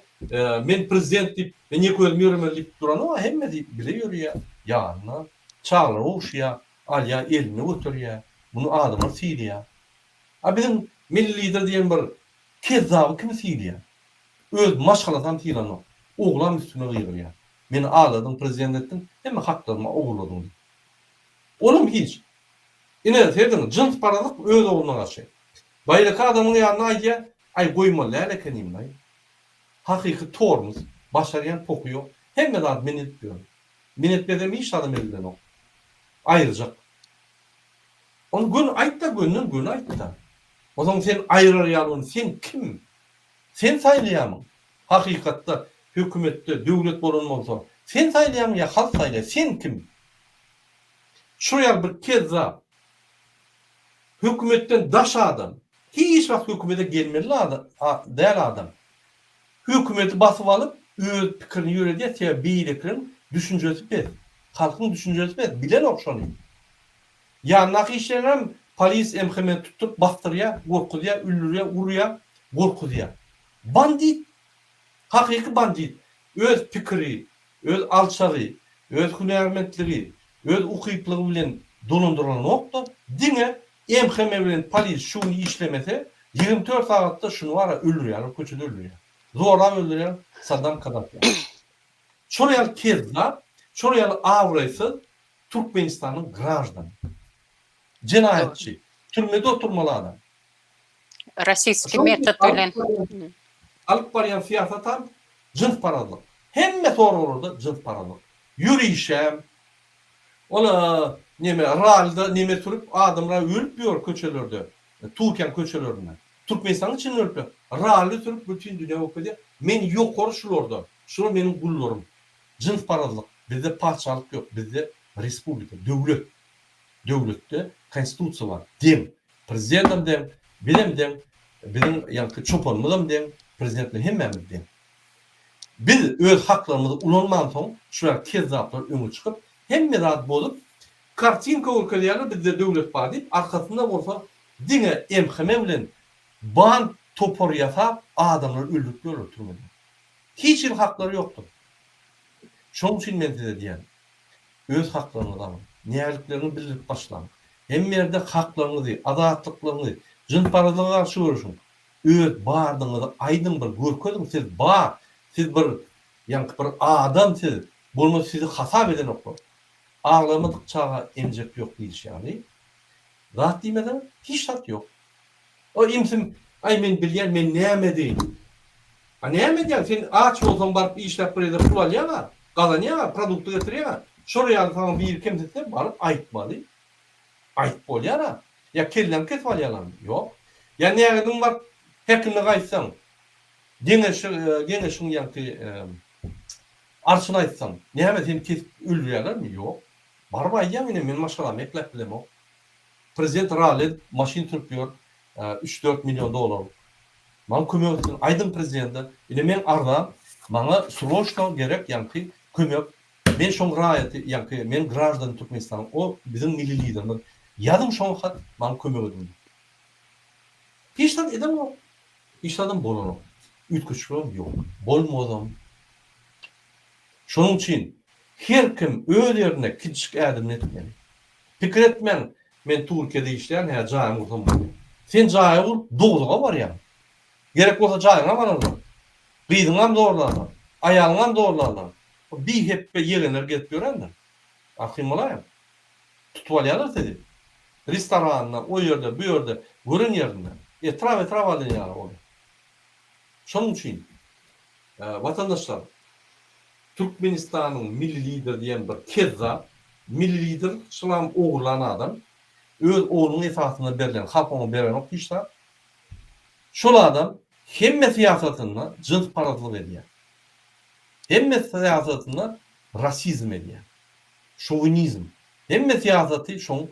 men prezident diýip, men ýeke özüm ýöremeli diýip duranok-a, hemmesi bile ýörýär, ýanyna çaglar gowşaýar, alýar eline göterýär, muny adamlar sylaýar. A biziň Milli Lider diýen bir kezzaby kim sylaýar? Öz maşgalasam sylanok, oglam üstüme gygyrýar. Meni agladyň prezident etdiň hemme haklarymy ogurladyň diýip. Olam hiç. Ine seziň jyns parazlyk öz ogluna garşy. Baýraky adamyň ýanyna aýdýa aý goýmaly däl ekeninlaý. Hakyky tormus. Başarýan pohy ýok. Hemme zat men edip ýörün. Men etmesem hiç zadam edilenok. Aýyrjak. Ony göni aýtda gönden göni aýtda. Ozaň sen aýyrar ýaly ony sen kim? Sen saýlaýarmyň? Hakykatda, hökümetde döwlet bolan bolsa, sen saýlaýarmyň ýa halk saýlaýar? Sen kim? Şu ýaly bir kezzap, hökümetden daş adam, hiç wagt hökümete gelmeli däl adam, hökümeti basyp alyp, öz pikirini ýöredýär, sebäbi beýlekileriň düşünjesi pes, halkyň düşünjesi pes, bilenok şony. Ýandaky işleňem polis MHM tutup basdyrýa gorkuzýa üldürýä urýa gorkuzýa. Bandit hakyky bandit öz pikiri öz alçagy öz hünärmentligi öz ukyplygy bilen dolandyrylanokda diňe MHM bilen polis şu gün işlemese ýigrimi dört sagatda şuny bara öldürýäler köçede öldürýä zorap öldürýä Saddam Kadafi ýaly. Şol ýaly kezzap şol ýaly abraýsyz Türkmenistanyň graždany. Jenaýatçy. Türmede oturmaly adam. Rasiski metod bilen. Alyp barýan syýasatam jynsparazlyk. Hemme soraglarda jynsparazlyk. Ýörişem. Ol neme ralda neme sürüp adamlar ölüp ýör köçelerde. Tuken köçelerinde. Türkmenistanyň içinde ölüp ýör. Rally sürüp bütin dünýä bolup gezýär. Men ýokary şulardan. Şular meniň gullarym. Jynsparazlyk, bizde patyşalyk ýok, bizde respublika, döwlet. Döwletde konstitusiýa bar, deň. Prezidentem deň, bizem deň, biziň ýaňky çopanymyzam deň, prezident bilen hemmämiz deň. Biz öz haklarymyzy ulanmansoň, şu ýaly kezzaplar öňe çykyp, hemme zat bozup, kartinka görkezýärler, bizde döwlet bar diýip, arkasynda bolsa diňe MHM bilen band topar ýasap, adamlary öldürip ýörler türmede. Hiç hili haklary ýokdur. Şonuň üçin men size diýýän, öz haklaryňyzy alyň, nälikleriňi bildirip başlaň. Hemme ýerde haklaryňyzy, azatlyklaryňy, jynsparazlyga garşy göreşiň. Öz bardygyňyzy aýdyň bir görkeziň siz bar, siz bir, ýaňky bir adam siz, bolmasa sizi hasap edenoklar. Aglamadyk çaga emjek ýok diýlişi ýaly, zat diýmeseň hiç zat ýok. O imsim, Aý, men bilýän, men näme edeýin? A näme edýäň? Sen aç bolsaň baryp işläp bir ýerde pul alýaň-a, gazanýaň-a, produkty getirýäň-a. Şolar ýaly saňa biri kemsitse, baryp aýtmaly. Aýdyp bolýar-a. Ýa kelläňi kesip alýarlarmy? Ýok. Ýa nägediň baryp häkime gaýtsaň, geňeşi, geňeşiň ýaňky arçyny aýtsaň, näme seni kesip öldürýärlermi? Ýok. Baryp aýdýaň, ine, men maşgalamy ekläp bilemok. Prezident ralli maşyn sürüp ýör üç dört million dolarlyk maňa kömek etsin aýdyň prezidente ine meň arzam maňa sroçno gerek ýaňky kömek men şoň raýaty ýaňky men graždany türkmenistanyň o biziň milli liderimiz ýazyň şoňa hat maňa kömek ediň diýip hiç zat edenok hiç zadam bolanok üýtgeşikligem ýok bolmazam şonuň üçin her kim öz ýerinde kiçijik ädimini etmeli. Pikir etmäň, men Türkiýede işleýän hä jaýymy gursam bolýa. Sen jaýy gurup dogluga barýaň. Gerek bolsa jaýyňa bararlar. Gyzyňam zorlarlar. Aýalyňam zorlarlar. Bu bi hepbe ýegenler gezip ýörendir. Arkaýyn bolaýyň. Tutup alýarlar sizi. Restoranda, o ýerde, bu ýerde, gören ýerinde. Etrap etrap alýan ýaly olar. Şonuň üçin, watandaşlar. Türkmenistanyň milli lideri diýen bir kezzap, milli lider şulam ogurlan adam, öz oglunyň esasynda berlen, halk oňa berenok hiç zat. Şol adam hemme syýasatynda jynsparazlyk edýär. Hemme syýasatynda rasizm edýär. Şowinizm. Hemme syýasaty şoň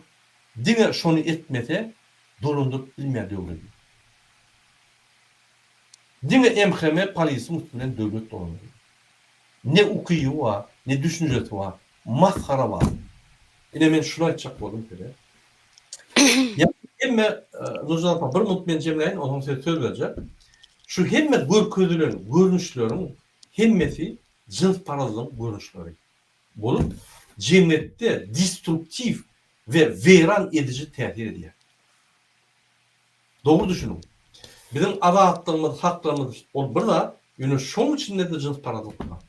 diňe şony etmese dolandyryp bilmeýär döwledi. Diňe MHM polisiň üstünden döwlet dolandyrýar. Ne ukyby bar, ne düşünjesi bar. Masgara bar. Ine men şuny aýtjak boldum size. Ýa hemme Nurjan apa bir minut men jemläýin, onsoň size söz berjek. Şu hemme görkezilen görnüşleriň hemmesi jynsparazlygyň görnüşleri bolup, jemgyýetde destruktiw we weýran ediji täsir edýär. Dogry düşüniň. Biziň azatlygymyz, haklygymyz ol bir zat, ýöne şoň içinde-de jynsparazlyk bar.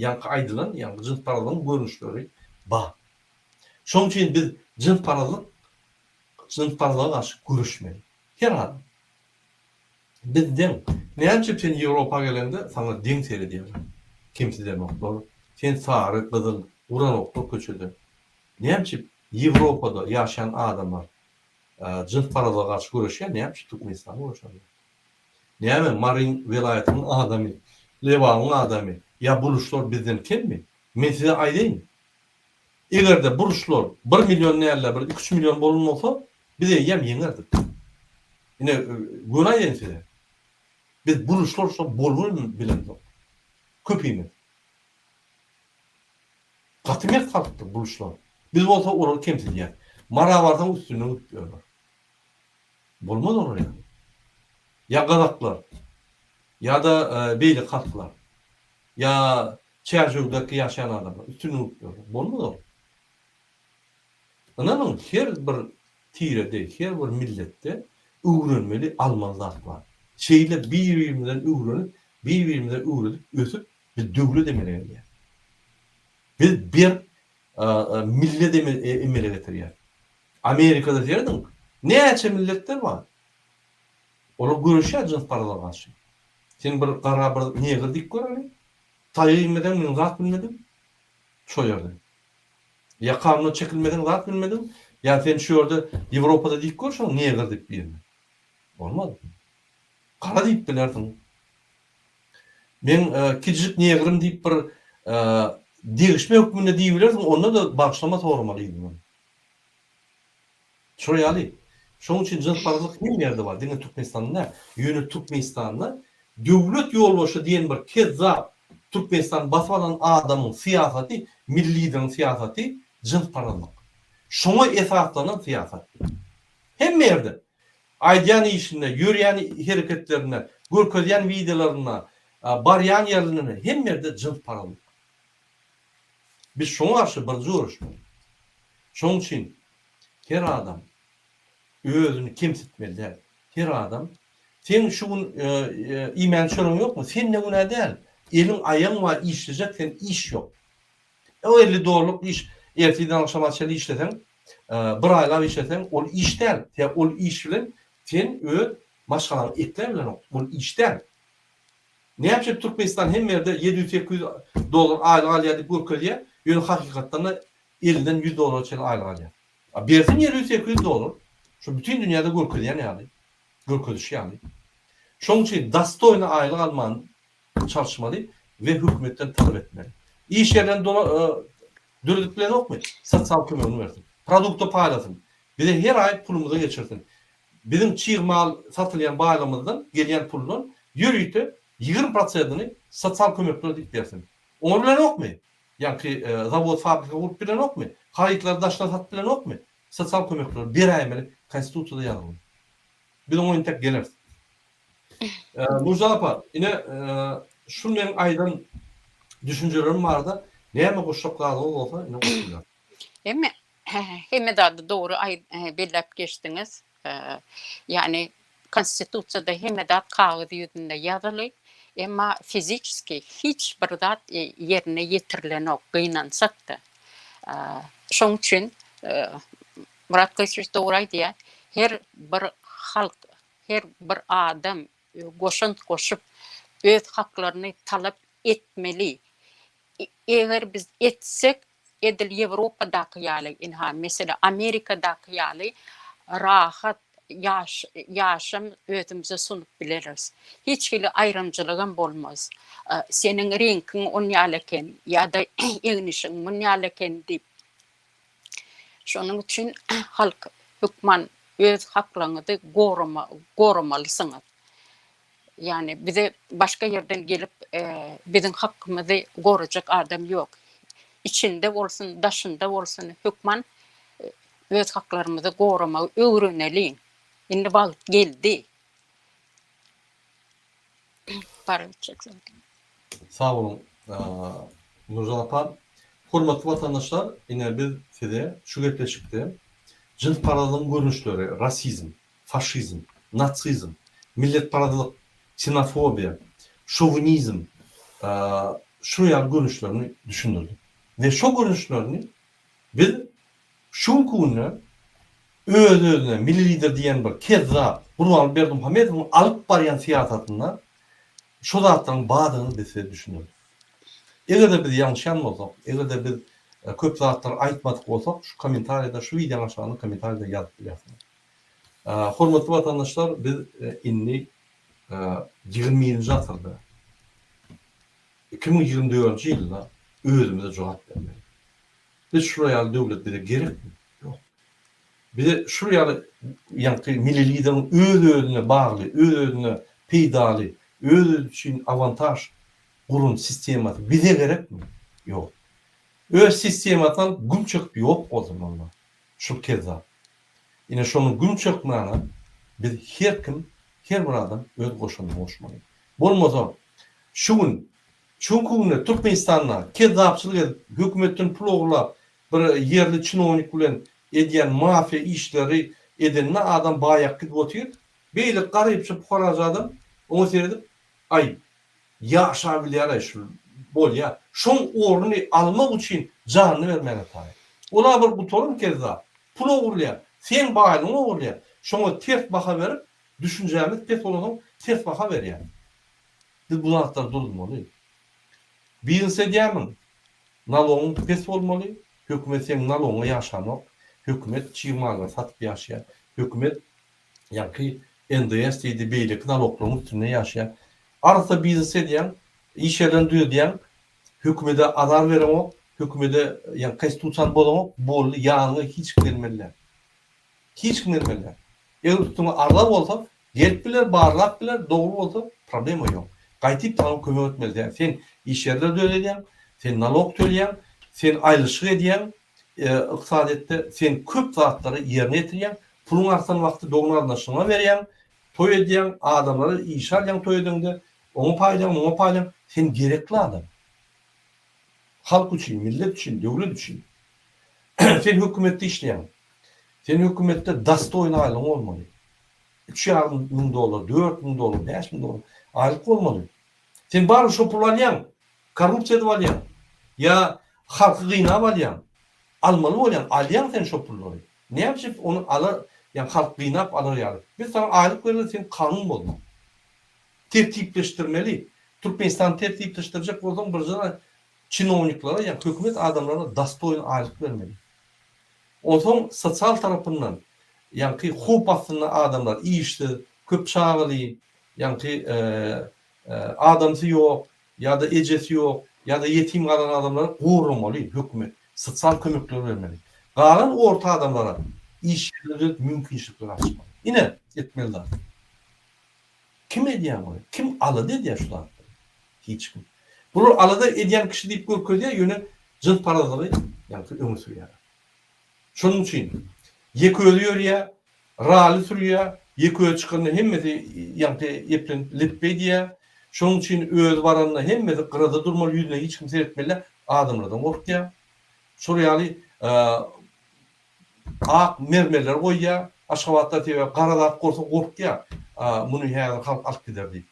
Ýaňky aýdylan ýaňky jynsparazlygyň görnüşleri bar. Şoň üçin biz jynsparazlyk jynsparazlyga garşy göreşmeli. Her adam. Biz deň. Näme üçin sen Ýewropa geleňde saňa deň seredýärler. Kemsidenoklar. Sen sary, gyzyl, uranoklar köçede. Näme üçin Ýewropada ýaşaýan adamlar Jyns paraza garşy göreşýär näme üçin Türkmenistan göreşenok. Näme Maryn welaýatynyň adamy, Lebabyň adamy ýa bu ruslar bizden kemmi? Men size aýdaýyn. Egerde bu ruslar bir million dälde bir iki üç million bolan bolsa biz eýýäm ýeňerdik. Ine göni aýdaýyn size. Biz bu ruslar bolubem bilemzok. Köpimiz. Gaty mert halkdyr buluşlar. Biz bolsa olary kemsidýäs. Mara barsaň üstünden gidip ýörler. Bolmaz olar ýaly. Ýa gazaklar, ýa-da beýleki halklar, ýa Çärjewdäki ýaşaýan adamlar üstünden gidip ýörler. Bolmaz ol. Ynanyň, her bir tirede, her bir milletde öwrenmeli almaly zat bar. Şeýle bir-birimizden öwrenip, bir-birimize öwredip ösüp Biz döwlet emele gelýär. Biz bir millet emele getirýär. Amerikada serediň, näçe milletler bar. Olar göreşýär jyns parazlyga garşy. Sen bir gara bir negr dik göreliň. Taýa inmeseň men zat bilmedim. Şo ýerde. Ýa kanuna çekilmeseň zat bilmediň, ýa sen şu ýerde Ýewropada dik görşüň negr diýip birine. Bolmaz. Gara diýip bilersiň. Meň kiçijik negrim diýip bir degişme hökmünde diýibilersiň, onda-da bagyşlama soramaly yzyňdan. Şo ýaly. Şonuň üçin jynsparazlyk hemme ýerde bar, diňe Türkmenistanda däl. Ýöne Türkmenistanda döwlet ýolbaşçy diýen bir kezzap Türkmenistany basyp alan adamyň syýasaty, milli lideriň syýasaty jynsparazlyk. Şoňa esaslanan syýasat. Hemme ýerde. Aýdýan işinde, ýörýän hereketlerinde, görkezýän wideolarynda, barýan ýerlerinde hemme ýerde jyns paralyk. Biz şoňa garşy biriji göreşmeli. Şoň üçin her adam özüni kemsitmeli däl. Her adam Seň şu gün iýmän çöregiň ýokmy? Sende günä däl. Eliň, aýagyň bar işlejek, sen iş ýok. O elli dollyk iş ertirden agşama çenli işleseň, bir aýlap işleseň ol iş däl. Sebäbi ol iş bilen sen öz maşgalaňy ekläp bilenok. Ol iş däl. Näçe Türkmenistan hemme ýerde ýedi ýüz sekiz ýüz dollar aýlyk alýar diýip görkezýä, ýöne hakykatdanda ellinden ýüz dollara çenli aýlyk alýar. A bersin ýedi ýüz sekiz ýüz dollar, şu bütin dünýäde görkezýän ýaly, görkezişi ýaly. Şoň üçin dastoýny aýlyk alman Çalyşmaly we hökümetden talap etmeli. Iş ýerlerini dola döredip bilenokmy, sosial kömegini bersin. Produkty paýlasyn. Bize her aý pulumyzy geçirsin. Biziň çig mal satylýan baýlygymyzdan gelýän puldan ýörite ýigrimi prosentini sosial kömeklere diýip bersin. Oňar bilenokmy? Ýaňky zawod fabrika gurup bilenokmy? Harytlary daşdan satyp bilenokmy? Sosial kömekleri beräýmeli konstitusiýada ýazylyny. Biz oňa entek geleris. Murza apa, ine, şu meň aýdan düşünjelerim barada näme goşjaklardygyňyz bolsa, ine goşuň. Hemme, hemme zady dogry belläp geçdiňiz. Ýagny, Konstitusiýada hemme zat kagyz ýüzünde ýazyly, emma fiziçeski hiç bir zat ýerine ýetirilenok, gynansak-da. Şonuň üçin Murat Gylyçow dogry aýdýar, her bir halk her bir adam goşant goşup, öz haklaryny talap etmeli. Eger biz etsek, edil Ýewropadaky ýaly, ynha, meselem, Amerikadaky ýaly rahat ýaşam özümize sunup bileris. Hiç hili aýrymçylygam bolmaz. Seniň reňkiň onýaly eken ýa-da egnişiň munýaly eken diýip, Şonuň üçin halk, hökman öz haklaryňyzy goramalysyňyz. Ýagny bize başga ýerden gelip, biziň hakymyzy gorajak adam ýok. Içinde bolsun, daşynda bolsun, hökman öz haklarymyzy goramagy öwreneliň. Indi wagt geldi. Para ötjek zaten. Sag boluň, Nurjan apa. Hormatly watandaşlar, ine biz size şu gepleşikde jynsparazlygyň görnüşleri, rasizm, faşizm, nasizm, milletparazlyk, ksenofobiýa, şowinizm şular ýaly görnüşlerini düşündirdik we şo görnüşlerini biz Şu günki günde öz-özüne Milli Lider diýen bir kezzap Gurbanguly Berdimuhamedowyň alyp barýan syýasatynda şu zatlaryň bardygyny biz size düşündirdik. Eger-de biz ýalňyşýan bolsak, eger-de biz köp zatlary aýtmadyk bolsak, şu kommentariýada, şu wideonyň aşagynda kommentariýada ýazyp bilýärsiňiz. Hormatly watandaşlar, biz indi ýigrimi birinji asyrda, iki müň ýigrimi dördünji ýylda özümize jogap bermeli. Biz şular ýaly döwlet bize gerekmi? Ýok. Bize şular ýaly ýaňky milli lideriň öz-özüne bagly, öz-özüne peýdaly, öz-özi üçin awantaž guran sistemasy bize gerekmi? Ýok. Öz sistemasyny alyp güm çekip ýok bolsun onda şul kezzap. Ine şonuň güm çekmäne biz her kim, her bir adam öz goşandyny goşmaly. Bolmasa şu gün Şuň küňünde Türkmenistanda kezzapçylyk edip, hökümetden pul ogurlap, bir ýerli çinownik bilen edýän mafiýa işleri edende adam baýak gidip otyr. Beýle garypja pukarajy adam oňa seredip, Aý, ýaşabilýär-aý şu, bolýa. Şoň ornuny almak üçin janyny bermäge taýyn. Ol-a bir gutarym kezzap. Pul ogurlaýa, seň baýlygyňy ogurlaýa. Şoňa ters baha berip, düşünjämiz pes bolansoň ters baha berýä. Biz bu zatlary durdurmaly. Biznes edýärmiň? Nalogyň pes bolmaly, hökümet seniň nalogyňa ýaşanok, hökümet çig mallary satyp ýaşaýar, hökümet ýaňky NDS diýdi, beýleki naloglaryň üstünde ýaşaýar. Arassa biznes edýäň, iş ýerlerini düzedýäň, hökümede azar bereňok, hökümede ýaňky konstitusiýany bozaňok, boldy, ýanyňa hiç kim gelmeli däl. Hiç kim gelmeli däl. Eger üstüňe azar bolsa, Gelip biler barlap biler dogry bolsa problema ýok. Gaýtyp saňa kömek etmeli däl. Sen iş ýerleri döredýäň, sen nalog tölýäň, sen aýlyşyk edýäň ykdysadyýetde, sen köp zatlary ýerine ýetirýäň, puluň artan wagty dogan-garyndaşlaryňa berýäň, toý edýäň, adamlary işe alýaň toý edeňde, oňa paýlaň, muňa paýlaň, sen gerekli adam. Halk üçin, millet üçin, döwlet üçin. Sen hökümetde işleýäň. Sen hökümetde dastoýny aýlygyň bolmaly. Üç ýarym müň dollar, dört müň dollar, bäş müň dollar aýlyk bolmaly. Sen barybir şo puly alýaň. Korrupsiýa edip alýaň. Ýa halky gynap alýaň. Almaly bolýaň, alýaň sen şo pullary. Näme üçin ony ala, ýa halk gynap alar ýaly. Biz saňa aýlyk bereli, sen kanun bozma. Tertipleşdirmeli. Türkmenistany tertipleşdirjek bolsaň birinjiden çinowniklara, ýa hökümet adamlaryna dostoýny aýlyk bermeli. Onsoň sosial tarapyndan, ýaňky howp astynda adamlar, işsiz, köp çagaly, ýaňky adamsy ýok, ýa-da ejesi ýok, ýa-da ýetim galan adamlary goramaly hökümet, sosial kömekler bermeli. Galan orta adamlara iş ýerleri döredip mümkinçilikler açmaly. Ine, etmeli zat. Kim edýär muny? Kim alada edýär şu zatlary? Hiç kim. Bular alada edýän kişi diýip görkezýär, ýöne jynsparazlygy ýaňky öňe sürýärler. Şonuň üçin ýekeözi ýörýär, rally sürýär, ýekeözi çykanda hemmesi ýaňky eplenip lepbeý diýýär. Şonuň üçin özi baranda hemmesi gyrada durmaly, ýüzüne hiç kim seretmeli däl, adamlardan gorkýar. Şol ýaly ak mermerleri goýýar. Aşgabatda sebäbi gara zat gorsa gorkýar, muny häzir halk alyp gider diýip.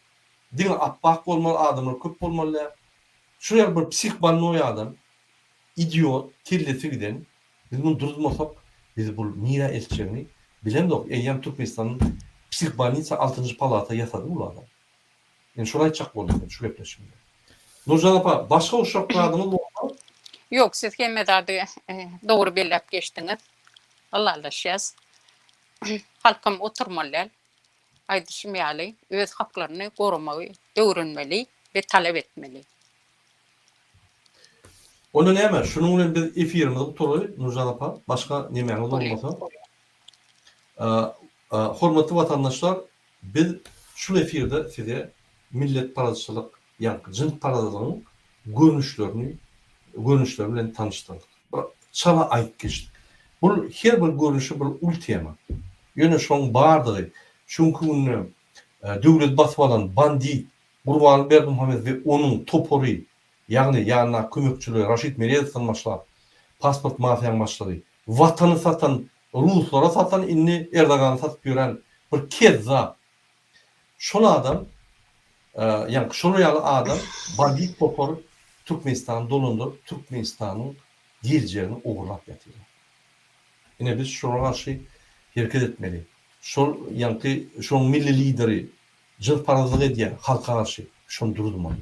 Diňe apbak bolmaly adamlar köp bolmaly däl. Şuny ýaly bir psih bolnoýy adam, idiot, kellesi giden, biz muny duruzmasak bizi bu nirä eltjegini bilemzok. Eýýäm Türkmenistanyň psih bolnisa altynjy palata ýasady bul adam. Indi şony aýtjak boldum men şu gepleşigimde. Nurjan apa başga uşak zadyňyz bolsa. Ýok siz hemme zady dogry belläp geçdiňiz. Ylalaşýas. Halkam oturmaly däl. aýdyşym ýaly, öz haklaryny goramagy öwrenmeli we talap etmeli. Onda näme, şunuň bilen biz efirimizi gutalaý, Nurjan apa, başga nemäňiz bolmasa. Hormatly watandaşlar, biz şul efirde size milletparazçylyk, ýaňky jynsparazlygyň görnüşlerini görnüşleri bilen tanyşdyrdyk. Çala aýtgyç. Bul her bir görnüşi bir uly tema. Ýöne şoň bardygy şu günki günde döwleti basyp alan bandit Gurbanly Berdimuhamedow we onuň topary, ýagny ýanyndaky kömekçileri Raşid Meredowdan başlap, pasport mafiýaň başlygy, watany satan, ruslara satan indi Erdogany satyp ýören bir kezzap, Şol adam ýaňky şolar ýaly adam bar diýip goparyp Türkmenistany dolandyryp Türkmenistanyň geljegini ogurlap ýatyrlar. Ine biz şolara garşy hereket etmeli. Şol ýaňky şoň milli lideri jynsparazlyk edýär halka garşy şony duruzmaly.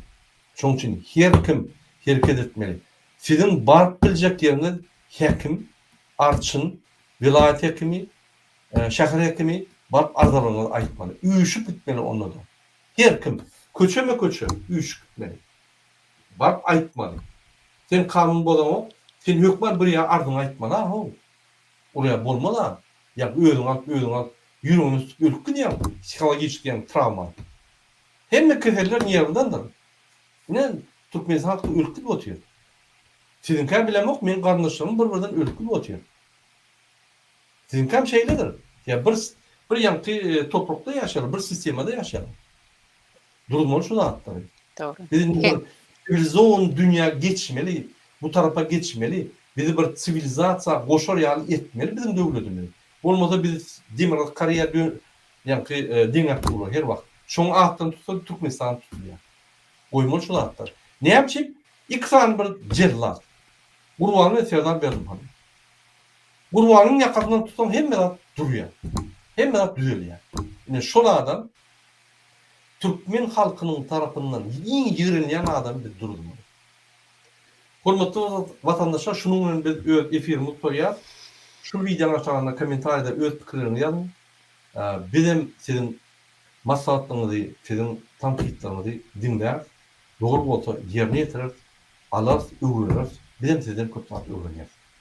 Şoň üçin her kim hereket etmeli. Siziň baryp biljek ýeriňiz häkim, arçyn, welaýat häkimi, Şäher häkimi baryp arzalygyňyzy aýtmaly. Üýşüp gitmeli onda-da. Her kim, köçeme-köçe üýşüp gitmeli. Baryp aýtmaly. Sen kanun bozaňok, sen hökman bir ýa arzyňy aýtmaly-a-how. Olar-a bolmaz-a. Ýa özüňi alyp, özüňi alyp, ýüregiňe tutup ölüp gidýäň, psihologiçki ýaňy trawma alyp. Hemme keseller nerwdandyr. Ine, türkmenistan halky ölüp gidip otyr. Siziňkä bilemok, meniň garyndaşlarym bir-birden ölüp gidip otyr. Siziňkam şeýledir. Ýa bir bir ýaňky toprukda ýaşaýarlar, bir sistemada ýaşaýarlar. Duruzmaly şu zatlary. Dogry. Biz indi bir siwilizowan dünýä geçmeli, bu tarapa geçmeli, bizi bir siwilizasiýa goşar ýaly etmeli biziň döwletimizi. Bolmasa biz Demirgazyk Koreýa dö ýaňky deňäp durlar her wagt. Şoň atdan tutsa Türkmenistan tutulýar. Goýmaly şu zatlary. Näme üçin iki sany bir jellat. Gurbanguly bilen Serdar Berdimuhamedow. Gurbanyň ýakasyndan tutsaň hemme zat durýar. Hemme zat düzelýär. Ine şol adam türkmen halkynyň tarapyndan iň ýigrenilýän adamy biz Durdymyz. Hormatly watandaşlar şunuň bilen biz öz efirimizi gutaryas. Şu wideonyň aşagynda kommentariýada öz pikirleriňizi ýazyň. Bizem siziň maslahatlaryňyzy, siziň tankytlaryňyzy diňläris. Dogry bolsa ýerine ýetireris, alarys, öwreneris. Bizem sizden köp zat öwrenýäris.